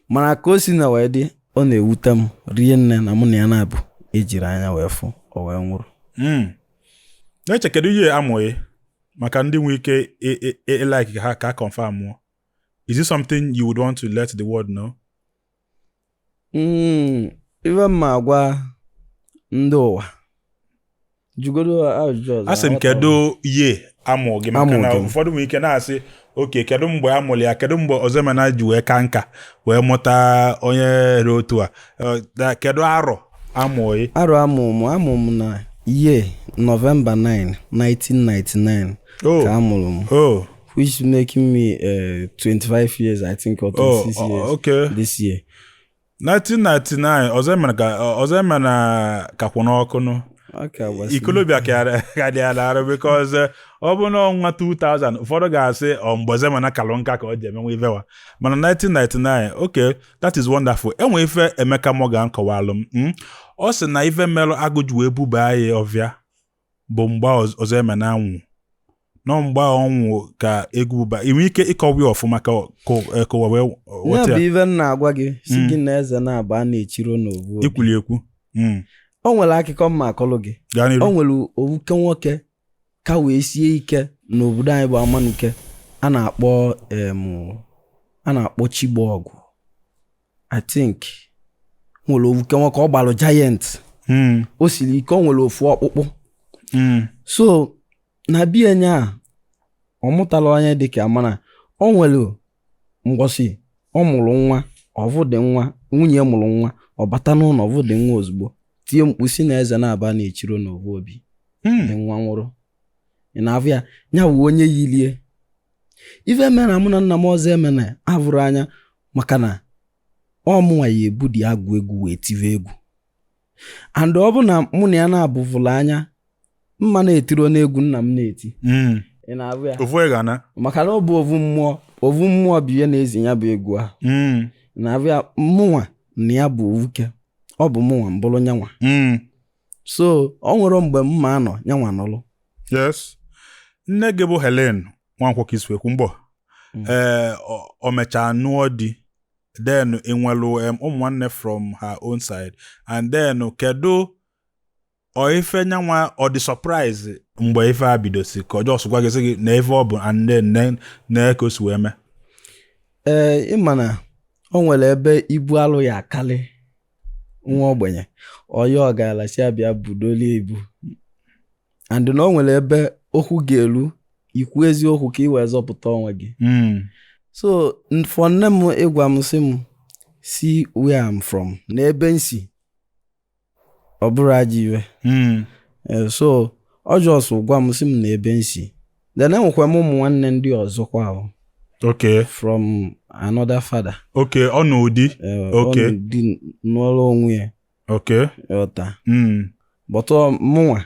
mana ka o si na wee dị ọ na-ewute m rie nne na mụ na ya naabọ ejiro anya wee fụ ọ wee nwụrụ Mm. Neche kedu year amụ gị maka ndị nwere ike ị- ị- ị- ịlike ka ha ka confirm mụọ is it something you would want to let the world know Mm, ife m ma agwa ndị ụwa jụgodo ajụjụ ọzọ asị m kedu year amụ gị maka na ụfọdụ nwere ike na-asị okay kedu mgbe a mụrụ ya kedu mgbe Ozoemena ji wee ka nka wee mụta onye ra otu a eh, kedu arọ amụ gị arọ amụ m amụ m na ye November 9 1999 ka amụrụ m oh. which making me uh, 25 years, I think, or 26 oh, years. okay. This year. 1999, Ozoemena ka Ozoemena ka kwụ n'ọkụ nụ. ikolobịa ka dị ya n'arụ because uh, ọ bụ na ọnwa 2000 ụfọdụ ga-asị ọ oh, mgbe Ozoemena kalụ nka ka ọ ji emenwe ife nwa mana 1999 okay that is wonderful enwe ife Emeka Morgan kọwalụ m hmm? ọ sị na ife merụ agụ ji wee buba ya ọvịa bụ mgbe Ọzọemena anwụ na ọ mgbe ọ nwụ ka egwu ba i nwe ike ịkọwa ya ọfụma ka kọwa wee weta ya bụ ive m na-agwa gị sị hmm. gị na eze naabọ a na-echiro n'ovu obi i kwuli ekwu hmm. o nwere akụkọ m ma-akọlụ gị o nwere ovuke nwoke ka wee sie ike n'obodo anyị bụ Amanuke a na-akpọ a na-akpọ Chigbọgwụ I think nwere ovuke nwoke ọ gbalụ giant hmm. o siri ike o nwere ofu ọkpụkpụ hmm. so na be nya ọ mụtala onye dịka mana o nwere mgbọsị ọ mụrụ nwa ọ vụ dị nwa nwunye mụrụ nwa ọ bata n'ụlọ ọ vụ dị nwa ozugbo tie mkpu sị na eze naabọ a na-echiro n'ovu obi hmm. dị nwa nwụrụ ị na-afụ ya nya bụ onye yilie ife mere na mụ na nna m Ọzọemena avụrọ anya maka na ọ mụnwa ya-ebu dị agwụ egwu wee tive egwu and ọ bụ na mụ na ya na-avụvụla anya m ma na-etiro n'egwu nna m na-eti hmm. ị na-avụ ya ofu egwu ana maka na ọ bụ ovu mmụọ ovu mmụọ bụ ihe na-ezi ya bụ egwu ahụ hmm. ị na-avụ ya mụnwa na ya bụ ovuke ọ bụ mụnwa m bụrụ nyanwa hmm. so o nwere mgbe m ma-anọ nyanwa nọlụ yes nne gị bụ Helen Nwankwọ ka i si ekwu mbụ Mm. ee ọ- ọ mechaa nụọ di then i nwelu em, ụmụ nwanne from her own side and then kedu ọ ife nyanwa ọ dị surprise mgbe ife a bido sị ka ọ just gwa gị sị gị na ife ọ bụ and then na- na ka o si wee mee ee ị ma na o nwere ebe ibu alụ ya-akarị nwa ogbenye ọ yọọ ọgaranya sị a bịa budolie ibu and na o nwere ebe okwu ga-eru ikwu eziokwu ka ị wee zọpụta onwe gị hmm. so for nne m ịgwa m sị m see where I'm from na ebe m si ọ bụrọ ajọ ive hmm. eh, so ọ just gwa m sị m na ebe m si then enwekwa m ụmụ nwanne ndị ọzọkwa ahụ okay from another father okay ọ nụọ di eh, okay ọ nụọ di nọrọ onwe ya Okay. Ị ghọta. Mm. But ọ mụnwa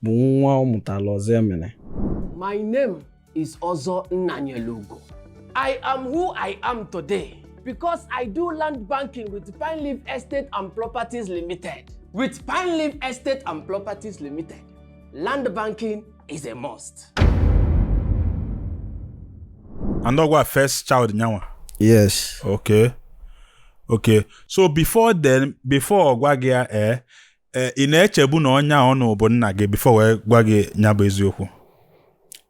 bụ nwa ọ mụtara Ọzọemena. My name is Ozo Nnanyelugo. I am who I am today because I do land banking with Pine Leaf Estate and Properties Limited. With Pine Leaf Estate and Properties Limited, land banking is a must. And ọ gịwa first child nyanwa. Yes. Okay. okay so before then before ọ gwa gị ya ee ee, ị na-echebu na onye ahụ nụ bụ nna gị before wee gwa gị ya bụ eziokwu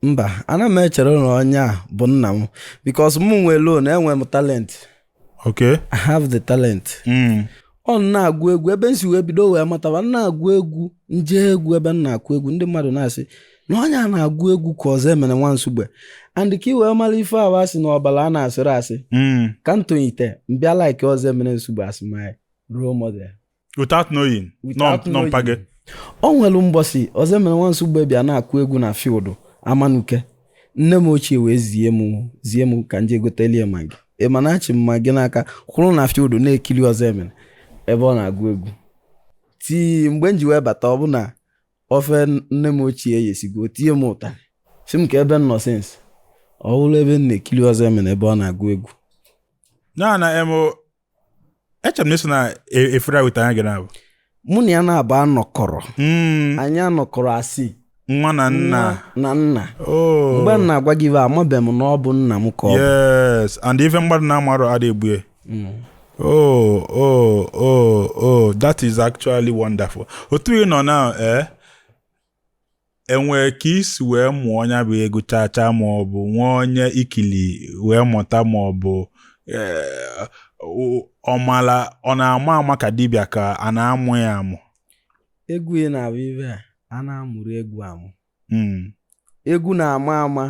mba ana m echero na onye a bụ nna m because mụ nwelụnụ enwe m talent okay i have the talent mm. ọ na-agụ egwu ebe m si wee bido wee mataba m na-agụ egwu m je egwu ebe a na-akụ egwu ndị mmadụ na-asị na onye a na-agụ egwu ka ọzọemena nwa nsugbe and ka i wee mara ife ahụ asị na ọbara ana-asịrọ asị hmm. ka m tonyite m bịa like ọzọemena nsugbe as my role model without knowing na ọ mpa gị o nwere mbọsị ọzọemena nwa nsugbe bịa na-akụ egwu na field amanuke nne m ochie wee zie m zie m ka m jee gotelu ya maggi ị ma na achị m maggi n'aka kwụrụ na field na-ekiri ọzọemena ebe ọ na-agụ egwu till mgbe m ji wee bata ọ bụ na ofe nne m ochie eyesigo tie m ụtarị sị m kee ebe m nọ since ọ bụrụ ebe m na-ekiri ọzọemena ebe ọ na-agụ egwu na na em echere m na eso na e- efere weta anya gị mba mụ na ya naabọ anọkọrọ Mm, anyị anọkọrọ as nwa na nna na nna oh mgbe m na-agwa gị ife a amabeghị m na ọ bụ nna m ka ọ bụ yes and ife mmadụ na-amarọ ada egbu e Mm. Oh, oh, oh, oh, that is actually wonderful. Otu ị nọ na eh? enwere ka i si wee mụọ nya bụ egwu chacha ma ọ bụ nwee onye i kili wee mụta ma ọ bụ eh, ọmala ọ na-ama ama ka dibịa ka a na-amụ ya amụ egwu ị na-abụ ife a ana-amụrọ egwu amụ hmm. egwu na-ama ama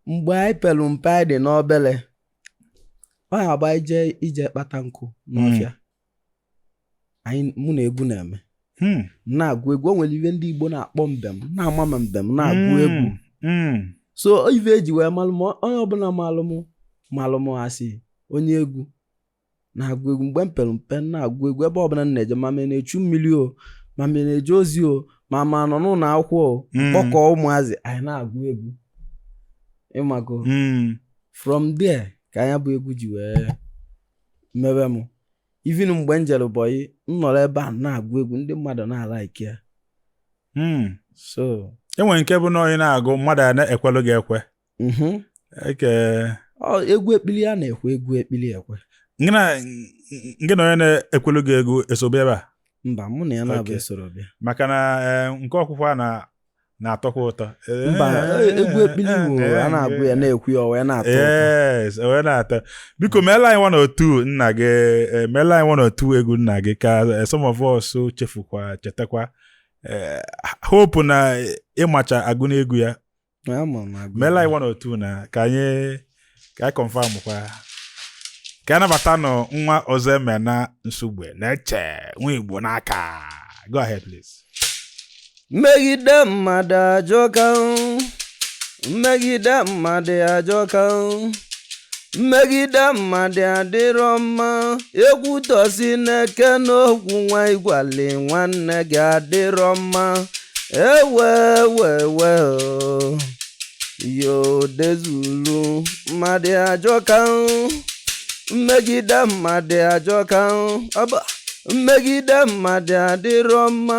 mgbe anyị pere mpe anyị dị n'obere ọ ya agba ije ije kpata nkụ n'ọfịa anyị mụ na egwu na-eme Hmm. na-agụ egwu o nwere ife ndị Igbo na-akpọ mbem na-ama m mbem na-agụ Hmm. egwu Hmm. so ife e ji wee malụ m onye ọbụla malụ m malụ m as onye egwu na-agụ egwu mgbe m pere mpe na-agụ egwu ebe ọbụla m na-eje ma m na-echu mmiri o ma m na-eje ozi o ma m nọ n'ụlọ akwụkwọ o Mm. kpọkọọ ụmụazị anyị na-agụ egwu ị mago Mm. from there ka nya bụ egwu ji wee mewe m even mgbe m jere bọyị m nọrọ ebe a na-agụ egwu ndị mmadụ na-alike ya Mm. so enwere nke bụ na onye na-agụ mmadụ a na-ekwelụ gị ekwe mhm. nke egwu ekpili a na-ekwe egwu ekpili ekwe gị na onye na-ekwelu gị egwu eso bịa ebe a mba mụ na ya naabọ esoro bịa maka na eh, nke okwukwe a na na-atọkwa ụtọ mba eh, eh, egwu ekpili eh, igbo a na-agụ ya na-ekwe ya wee na-atọ ụtọ wee na-atọ biko meela anyị one or two nna gị meela anyị one or two egwu nna gị ka some of us chefukwa chetakwa hope na ị macha agụ n'egwu ya meela anyị one or two na ka anyị ka anyị confirm kwa ka a nabatanụ nwa Ozoemena Nsugbe na-eche nwa igbo n'aka go ahead please mmegide mmadụ ajọka mmegide mmadụ ajọka mmegide mmadụ adịrọ mma ekwutọsị na-eke n'okwu nwa igwali nwanne gị adịrọ mma ewe wee wee o. yo dezulu mmadụ ajọka o. mmegide mmadụ ajọka o. Ọba. mmegide mmadụ adịrọ mma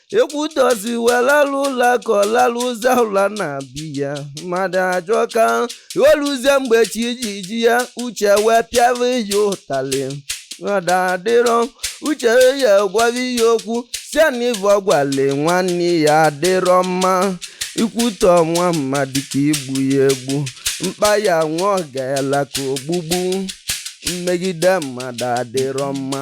ekwutọsị welalụ ụla ka ọ lalụ ụzọ ụla na-abịa mmadụ ajọka o luzie mgbe chi ji ji ya uche wee pịawa ya ụtalị mmadụ adịrọ uche ya gwara ya okwu sị ya na ivu ọgwale nwanne ya adịrọ mma ikwutọ nwa mmadụ ka igbu ya egbu mkpalị nwa ọgalanya ka ogbugbu mmegide mmadụ adịrọ mma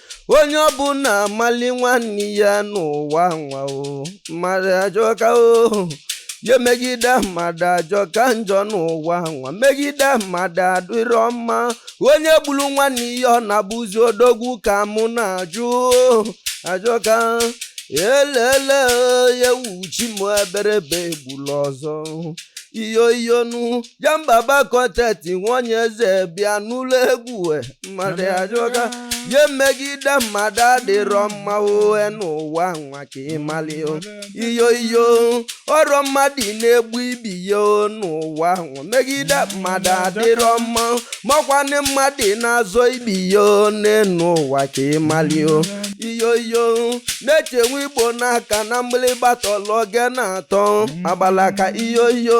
onye ọbụla mali nwanne ya n'ụwa nwa o mmadụ ajọka o ya mmegide mmadụ ajọka njọ n'ụwa nwa mmegide mmadụ adịrọ mma onye gbulu nwanne ya ọ na-abụzi odogwu ka mụ na-ajụ ajọka elele ya wuchi m eberebe egbula ọzọ iyo iyonu ya mbaba kọteti nwanyị eze bịa n'ụlọ egwu e, mmadụ ajọka ya mmegide mmadụ adịrọ mma ohe n'ụwa nwa ka ịmali o. iyo iyo ọrọ mmadụ na-egbu ibe ya o n'ụwa nwa mmegide mmadụ adịrọ mma makwanụ mmadụ na-azọ ibe ya o n'enu ụwa ka ịmali o iyo iyo na-echenwe igbo n'aka na mgbịlịgba tọlọ oge na-atọ agbalaka iyo iyo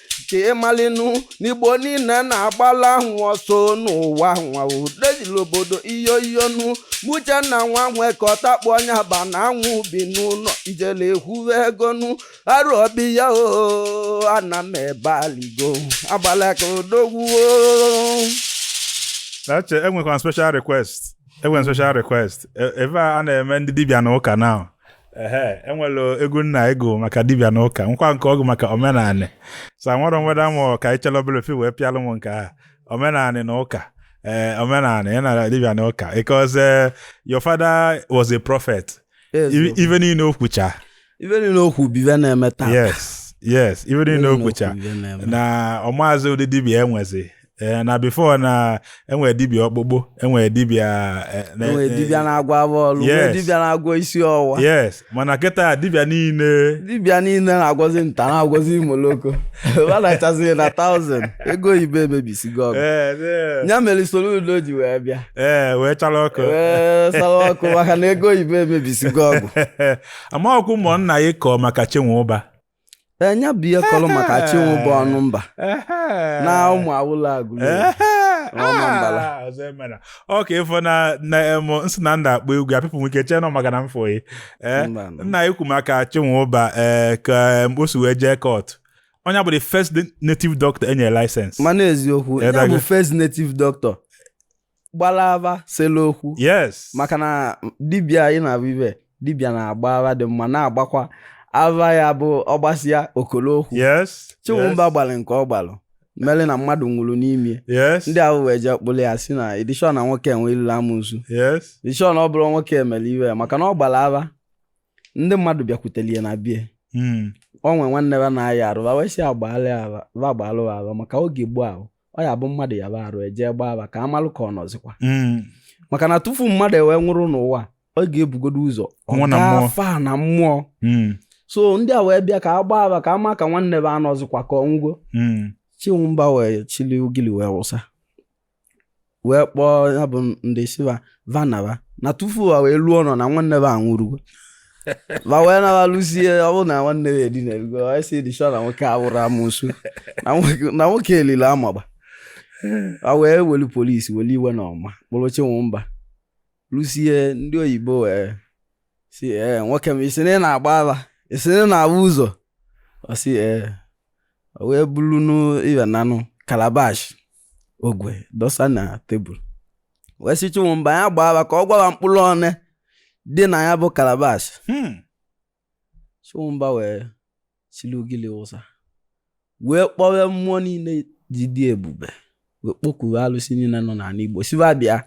ka ịmalinu n'igbo niile na-agbala ahụ ọsọ n'ụwa nwa odezili obodo iyo iyonu m Uchenna nwa nwe ka ọtakpụ onye aba na anwụ bi n'ụlọ ijele ekwuwe egonu arụ obi ya oo ana m ebe aligo agbala ka odogwu oo. Eche enwekwa special request enwere special request E- ebe a a na-eme ndị dibịa na ụka na ehe enwere egwu nna ị gụ maka dibịa na ụka kwa nke ọ gụ maka omenanị sa nwere nweda mụ ka anyị chọrọ obere ife wee pịalụ m nke a omenanị na ụka ee eh, omenanị ya na dibịa na ụka because eh, your father was a prophet ife niile o kwucha ife niile o kwu bụ ife na-eme taa yes yes ife niile o kwucha na ọmaazị ụdị dibịa e nwezi ee na before na enwere dibịa ọkpụkpụ enwere dibịa eh, na- enwere eh, dibịa na-agwọ afọ ọlụ nwee Yes. dibịa na-agwọ isi ọwụwa yes mana kịta dibịa niile dibịa niile na-agwọzi nta na-agwọzi imoloko anachazi na taụzend ego oyibo emebisigo ọgwụ ee ee, ya mere Soludo ji wee bịa ee wee chara ọkụ wee sara ọkụ maka na ego oyibo emebisigo ọgwụ amaọkụ ụmụnna ya kọọ maka Chinwụba nya bụ ihe kọrọ maka Chinwụba Ọnụmba na ụmụ awụla Agụlụ ọma mbala Ah, Ọzọemena Okafọ na na em, m sị na ndị akpọ egwu ya pipụ nwike chee nọ maka na m fụghị Eh, Mba, nọ. na-ekwu maka Chinwụba ee ka em, o si wee jee court onye bụ the first native doctor enyere license mana eziokwu ya Edago. bụ first native doctor gbara ava sere okwu yes maka na dibịa anyị na-abụ ibe dibịa na-agba ava dị mma na-agbakwa ava ya bụ ọ gbasịa o koro okwu yes Chinwụba yes, gbalụ nke ọ gbalụ mere na mmadụ nwụrụ n'ime yes ndị ahụ wee jee kpụrụ ya si na edishọn na nwoke enwe ilulu amosu yes edishọn ọ bụrụ nwoke emere iwe ya maka na ọ gbara ava ndị mmadụ bịakwutere ya na bie Mm. o nwe nwanne ya na-aya arụ va wee sị agbaala ya ava va agbalụ ya ava maka oge gboo ahụ ọ ya-abụ mmadụ yaba arụ e jee gbaa ava ka a malụ ka ọ nọzikwa mm. maka na tufu mmadụ ewee nwụrụ n'ụwa ọ ga-ebugodo ụzọ ọ gafa na mmụọ mm. so ndị a wee bịa ka a gbaa ava ka a ma ka nwanne va anọzikwa ka ọ nwụgo mm. Chinwụba wee chili ugili wee wụsa wee kpọọ ya bụ ndị sị va va naba na tufu va wee luo ụnọ na nwanne va anwụrụgo va wee naba luzie ọ bụrụ na nwanne va edinarugo anyị si dịchọ na nwoke awụrụ amosu na nwoke elile amagba va wee welu polisi welu iwe na ọnụma kpụrụ Chinwụba lusie ndị oyibo wee sị ee nwoke m ị sị na ị na-agba ava ị sị na ị na-avụ ụzọ ọ sị ee o wee bulunụ ive nanụ kalabash ogwe dọsa na tebụl wee sị Chinwụba ya gbaa ava ka ọ gwa va mkpụrụ one dị na ya bụ kalabash Hmm. Chinwụba wee chili ugili wụsa wee kpọwe mmụọ niile ji dị ebube wee kpọkuwe alụsị niile nọ n'ala Igbo sị va bịa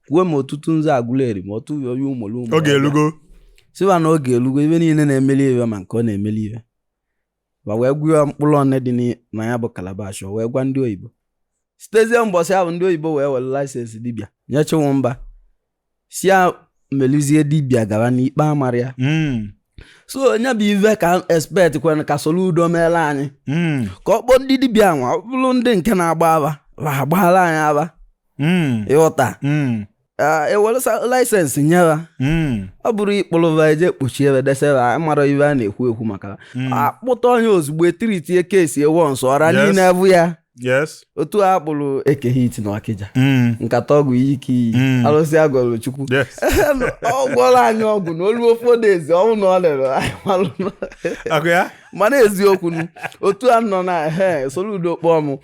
kwuo ma Otutunzu Agụleri ma ọtụ oyi ụmụrụ ụmụ oge elugo sị va na oge elugo ive niile na-emeli ive ma nke ọ na-emeli ive ma wee gụọ mkpụrụ one dị n'i- na ya bụ kalabash o wee gwa ndị oyibo sitezie mbọsị ahụ ndị oyibo wee were license dibịa nye Chinwụba sị ya meluzie dibịa gara na ikpe amarọ ya Mm, so nya bụ ive ka expect kwere ka Soludo meere anyị mm, ka ọ kpọọ ndị dibịa nwa ọ bụrụ ndị nke na-agba ava va agbaara anyị ava mm, ị ghọta mm. ewelụsa laịsensị nye ha Mm. ọ bụrọ ịkpụrụ va eje kpọchie ebe desera amara ive a na-ekwu ekwu maka Mm. akpụta onye ozugbo etiritie kesi ewe nsọ ọra Yes. niile abụ ya yes otu a kpụrụ Eke Hit na Ọkịja Mm. nkata ọgwụ iyi ka iyi Mm. alụsị agọlụ Chukwu yes ọ gwọrọ anyị ọgwụ na o luo four days ọ wụrụ na o lere anyị malụ na- akụ ya mana eziokwu nu, otu a nọ na he Soludo kpọọ m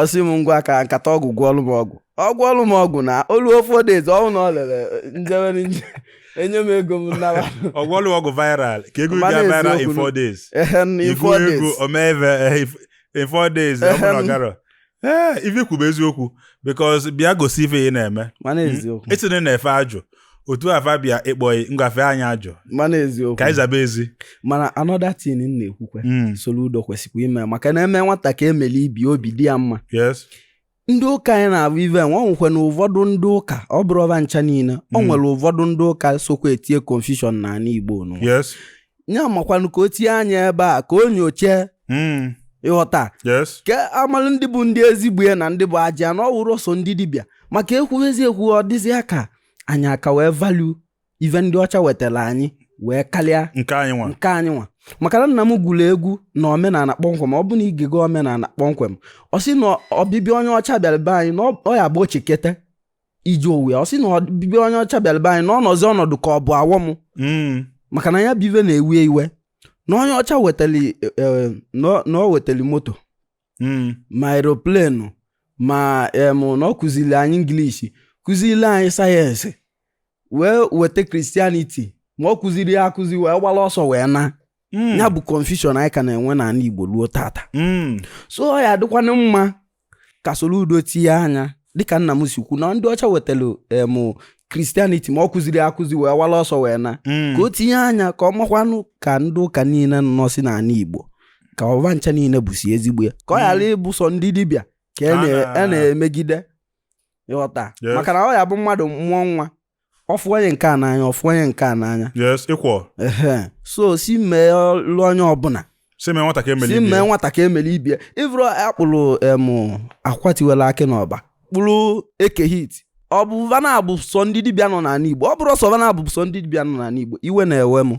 sị m ngwa ka nkata ọgwụ gwọọlụ m ọgwụ ọ gwọọlụ m ọgwụ na o luo four days ọ wụrụ na o lere njewere nje enye m ego m naba ọ gwọọlụ ọgwụ viral ka ego Mmanụ ga viral in eziokwu. four days ehe na ifu four ego days omeve in four days ọ bụrụ na ọ garọ ee ife kwube eziokwu biko si bịa gosi ife ị na-eme mana eziokwu esi na ị na-efe ajụ otu afa bịa ịkpọghị ngwa fee anyị ajụ mana ka anyị eziokwu zaba ezi mana another thing m na-ekwukwa Mm, Soludo kwesịkwa ime maka na e mee nwata ka emeli ibe ya obi dị ya mma yes ndị ụka anyị na-abụ ive nwa nwekwe na ụfọdụ ndị ụka ọ bụrọ va ncha niile ọ nwere ụfọdụ ndị ụka sokwa etie confusion n'ala Igbo nụ yes ya makwanụ ka o tinye anya ebe a ka o nyochee mm. ịghọta yes ka amalụ ndị bụ ndị ezigbo ya na ndị bụ ajọ ya na ọ wụrọ sọ ndị dibịa maka ekwuwezi ekwu ọ dịzịa ka anyị ka wee value ife ndị ọcha wetara anyị wee karịa nke anyị nwa nke anyị nwa maka na nna m gụrụ egwu na omenala kpọmkwem ọ bụ na i gego omenala kpọmkwem ọ sị na ọbịbịa onye ọcha bịara be anyị na ọ ya bụ o cheketa iji owe ọ sị na ọbịbịa onye ọcha bịara be anyị na ọ nọzi ọnọdụ ka ọ bụ awọ m hmm. maka na ya bụ ive na-ewe ya iwe na onye ọcha wetara e, e, na o wetara moto hmm. ma aeroplane ma em na ọ kụziri anyị English kụziri anyị sayensị wee weta Christianity ma ọ kụzirọ ya akụzi wee gbala ọsọ wee na hmm. ya bụ confusion anyị ka na-enwe n'ala Igbo ruo tata hmm. so ọ ya adịkwanụ mma ka Soludo tinye anya dịka nna m si kwu na ndị ọcha wetara em Christianity ma ọ kụzirọ akụzi wee wala ọsọ wee na Mm. ka o tinye anya ka ọ makwanụ ka ndị ụka niile nọsi n'ala Igbo ka ọ va ncha niile bụsi ezigbo ya ka ọ ghara ịbụ sọ ndị dibịa ka e na- Ah. e na-emegide ịghọta Yes. maka na ọ ya bụ mmadụ mụọ nwa ọ fụ onye nke a n'anya ọ fụ onye nke a n'anya yes ịkwọ so si meelụ onye ọbụla si mee nwata ka emeli ibe ya si mee nwata ka emeli ibe ya ị vụrọ a kpụrụ em Akwa tiwela akị n'Ọba kpụrụ Eke Hit ọ bụ va na-abụ sọ ndị dibịa nọ n'ala igbo ọ bụrọ sọ va na-abụ sọ ndị dibịa nọ n'ala igbo iwe na-ewe m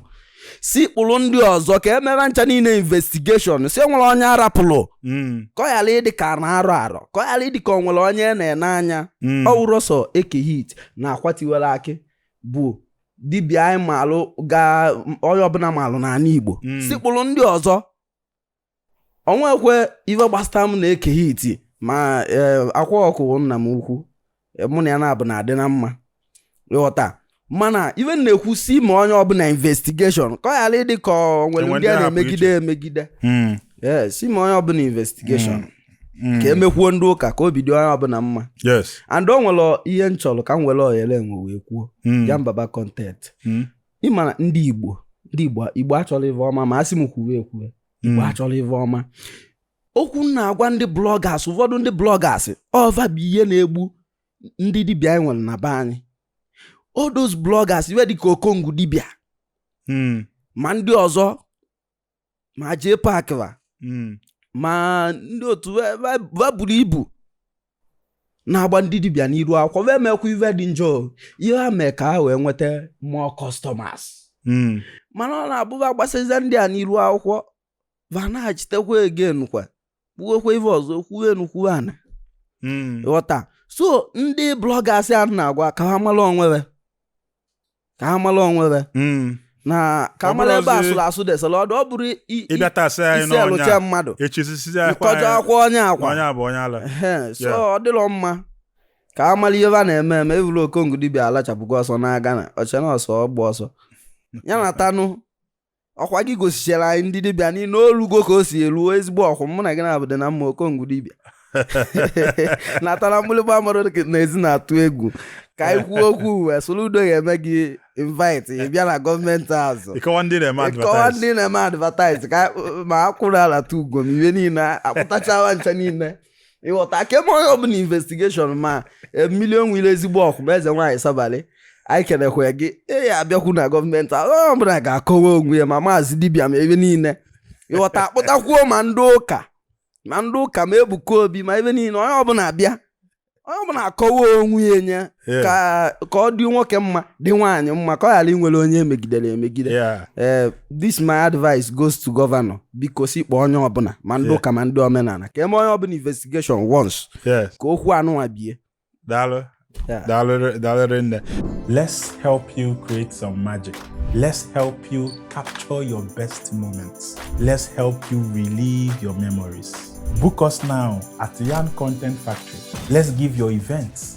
si kpụrụ ndị ọzọ ka eme va ncha niile investigation si nwere onye a rapụrụ Mm, ka ọ ghara ịdị ka na-arọ arọ ka ọ ghara ịdị ka ọ nwere onye a na-ene anya mm. ọ wụrọ sọ Eke Hit na Akwa tiwere akị bụ dibịa anyị maalụ ga onye ọbụla maalụ n'ala igbo Mm. si kpụrụ ndị ọzọ o nwekwe ife gbasata m na Eke Hit ma e, akwa ọkụ nna m ukwu e, mụ na ya na-abụ na-adị na mma ịghọta mana ife na-ekwu si mee onye ọbụla investigation ka ọ ghara ịdị ka ọ nwere ndị a na-emegide emegide hmm. si mee onye ọbụla investigation hmm. Mm. ka e mekwuo ndị ụka ka obi dị onye ọbụla mma and o nwere ihe m chọrọ ka m were ohere enwe wee kwuo mm. Yan Baba content mm. ị ma na ndị igbo ndị igbo igbo achọrọ ive ọma ma a sị m kwuwe ekwuwe igbo Mm. achọrọ ive ọma okwu m na-agwa ndị bloggers ụfọdụ ndị bloggers ọ va bụ ihe na-egbu ndị dibịa anyị nwere na be anyị all those bloggers ive dịka okongwu dibịa Mm. ma ndị ọzọ ma jee pack va hmm. ma ndị otu va buru ibu na-agba ndị dibịa n'iru akwụkwọ va emekwa ive dị njọ ihe ha mee ka ha wee nweta more customers hmm. mana ọ na-abụ va gbasazia ndị a n'iru akwụkwọ va na-achitekwa again kwa kwuwekwa ife ọzọ kwuo enu kwuo ana hmm. ghọta so ndị bloggers a na-agwa ka ha mara onwe va ka ha mara onwe va hmm. na ka mara ebe a sụrụ asụ desara ọdụ ọ bụrụ iselụcha mmadụ ịkọjọ akwa onye akwa so ọ dịrọ mma ka va mara ihe va na-eme eme evụrụ okongwu dibịa alachapụgo ọsọ na-aga na ọcha na ọsọ ọgba ọsọ ya na town ọkwa gị gosichara anyị ndị dibịa niile o lugo ka o si eruo ezigbo okwu mụ na gị na-abụ dị na mma okongwu dibịa natara mgbịrịgba mmadụ na ezi na-atụ egwu ka anyị kwuo okwu e soludo ga-eme gị invite ị bịa na government house ị kọwaa ndị na-eme ị kọwaa ndị na-eme advertise ka ma akwụrụ ala tụ ugom ive niile a kpụtacha va ncha niile ịghọta ka e mee onye ọbụla investigation ma Mmiri Enwe Ilo ezigbo okwu ma eze nwaanyị sabalị anyị kenekwa gị ị ya-abịakwu na gọọmenti onye ọbụla ga-akọwa onwe ya ma maazị dibịa ma ebe niile ịghọta a kpụtakwuo ma ndị ụka ma ndị ụka ma ebuka obi ma ebe niile onye ọbụla abịa onye ọbụla akọwa onwe ya nye ka ka ọ dị nwoke mma dị nwaanyị mma ka ọ ghara inwere onye e megidere emegide ee eh, this my advice goes to governor biko si kpọọ onye ọbụla ma ndị ụka ma ndị omenala ka e mee onye ọbụla investigation once ka okwu anụnwa bie daalụ daalụ nne let's help you create some magic let's help you capture your best moments let's help you relive your memories book us now at Yan Content Factory let's give your events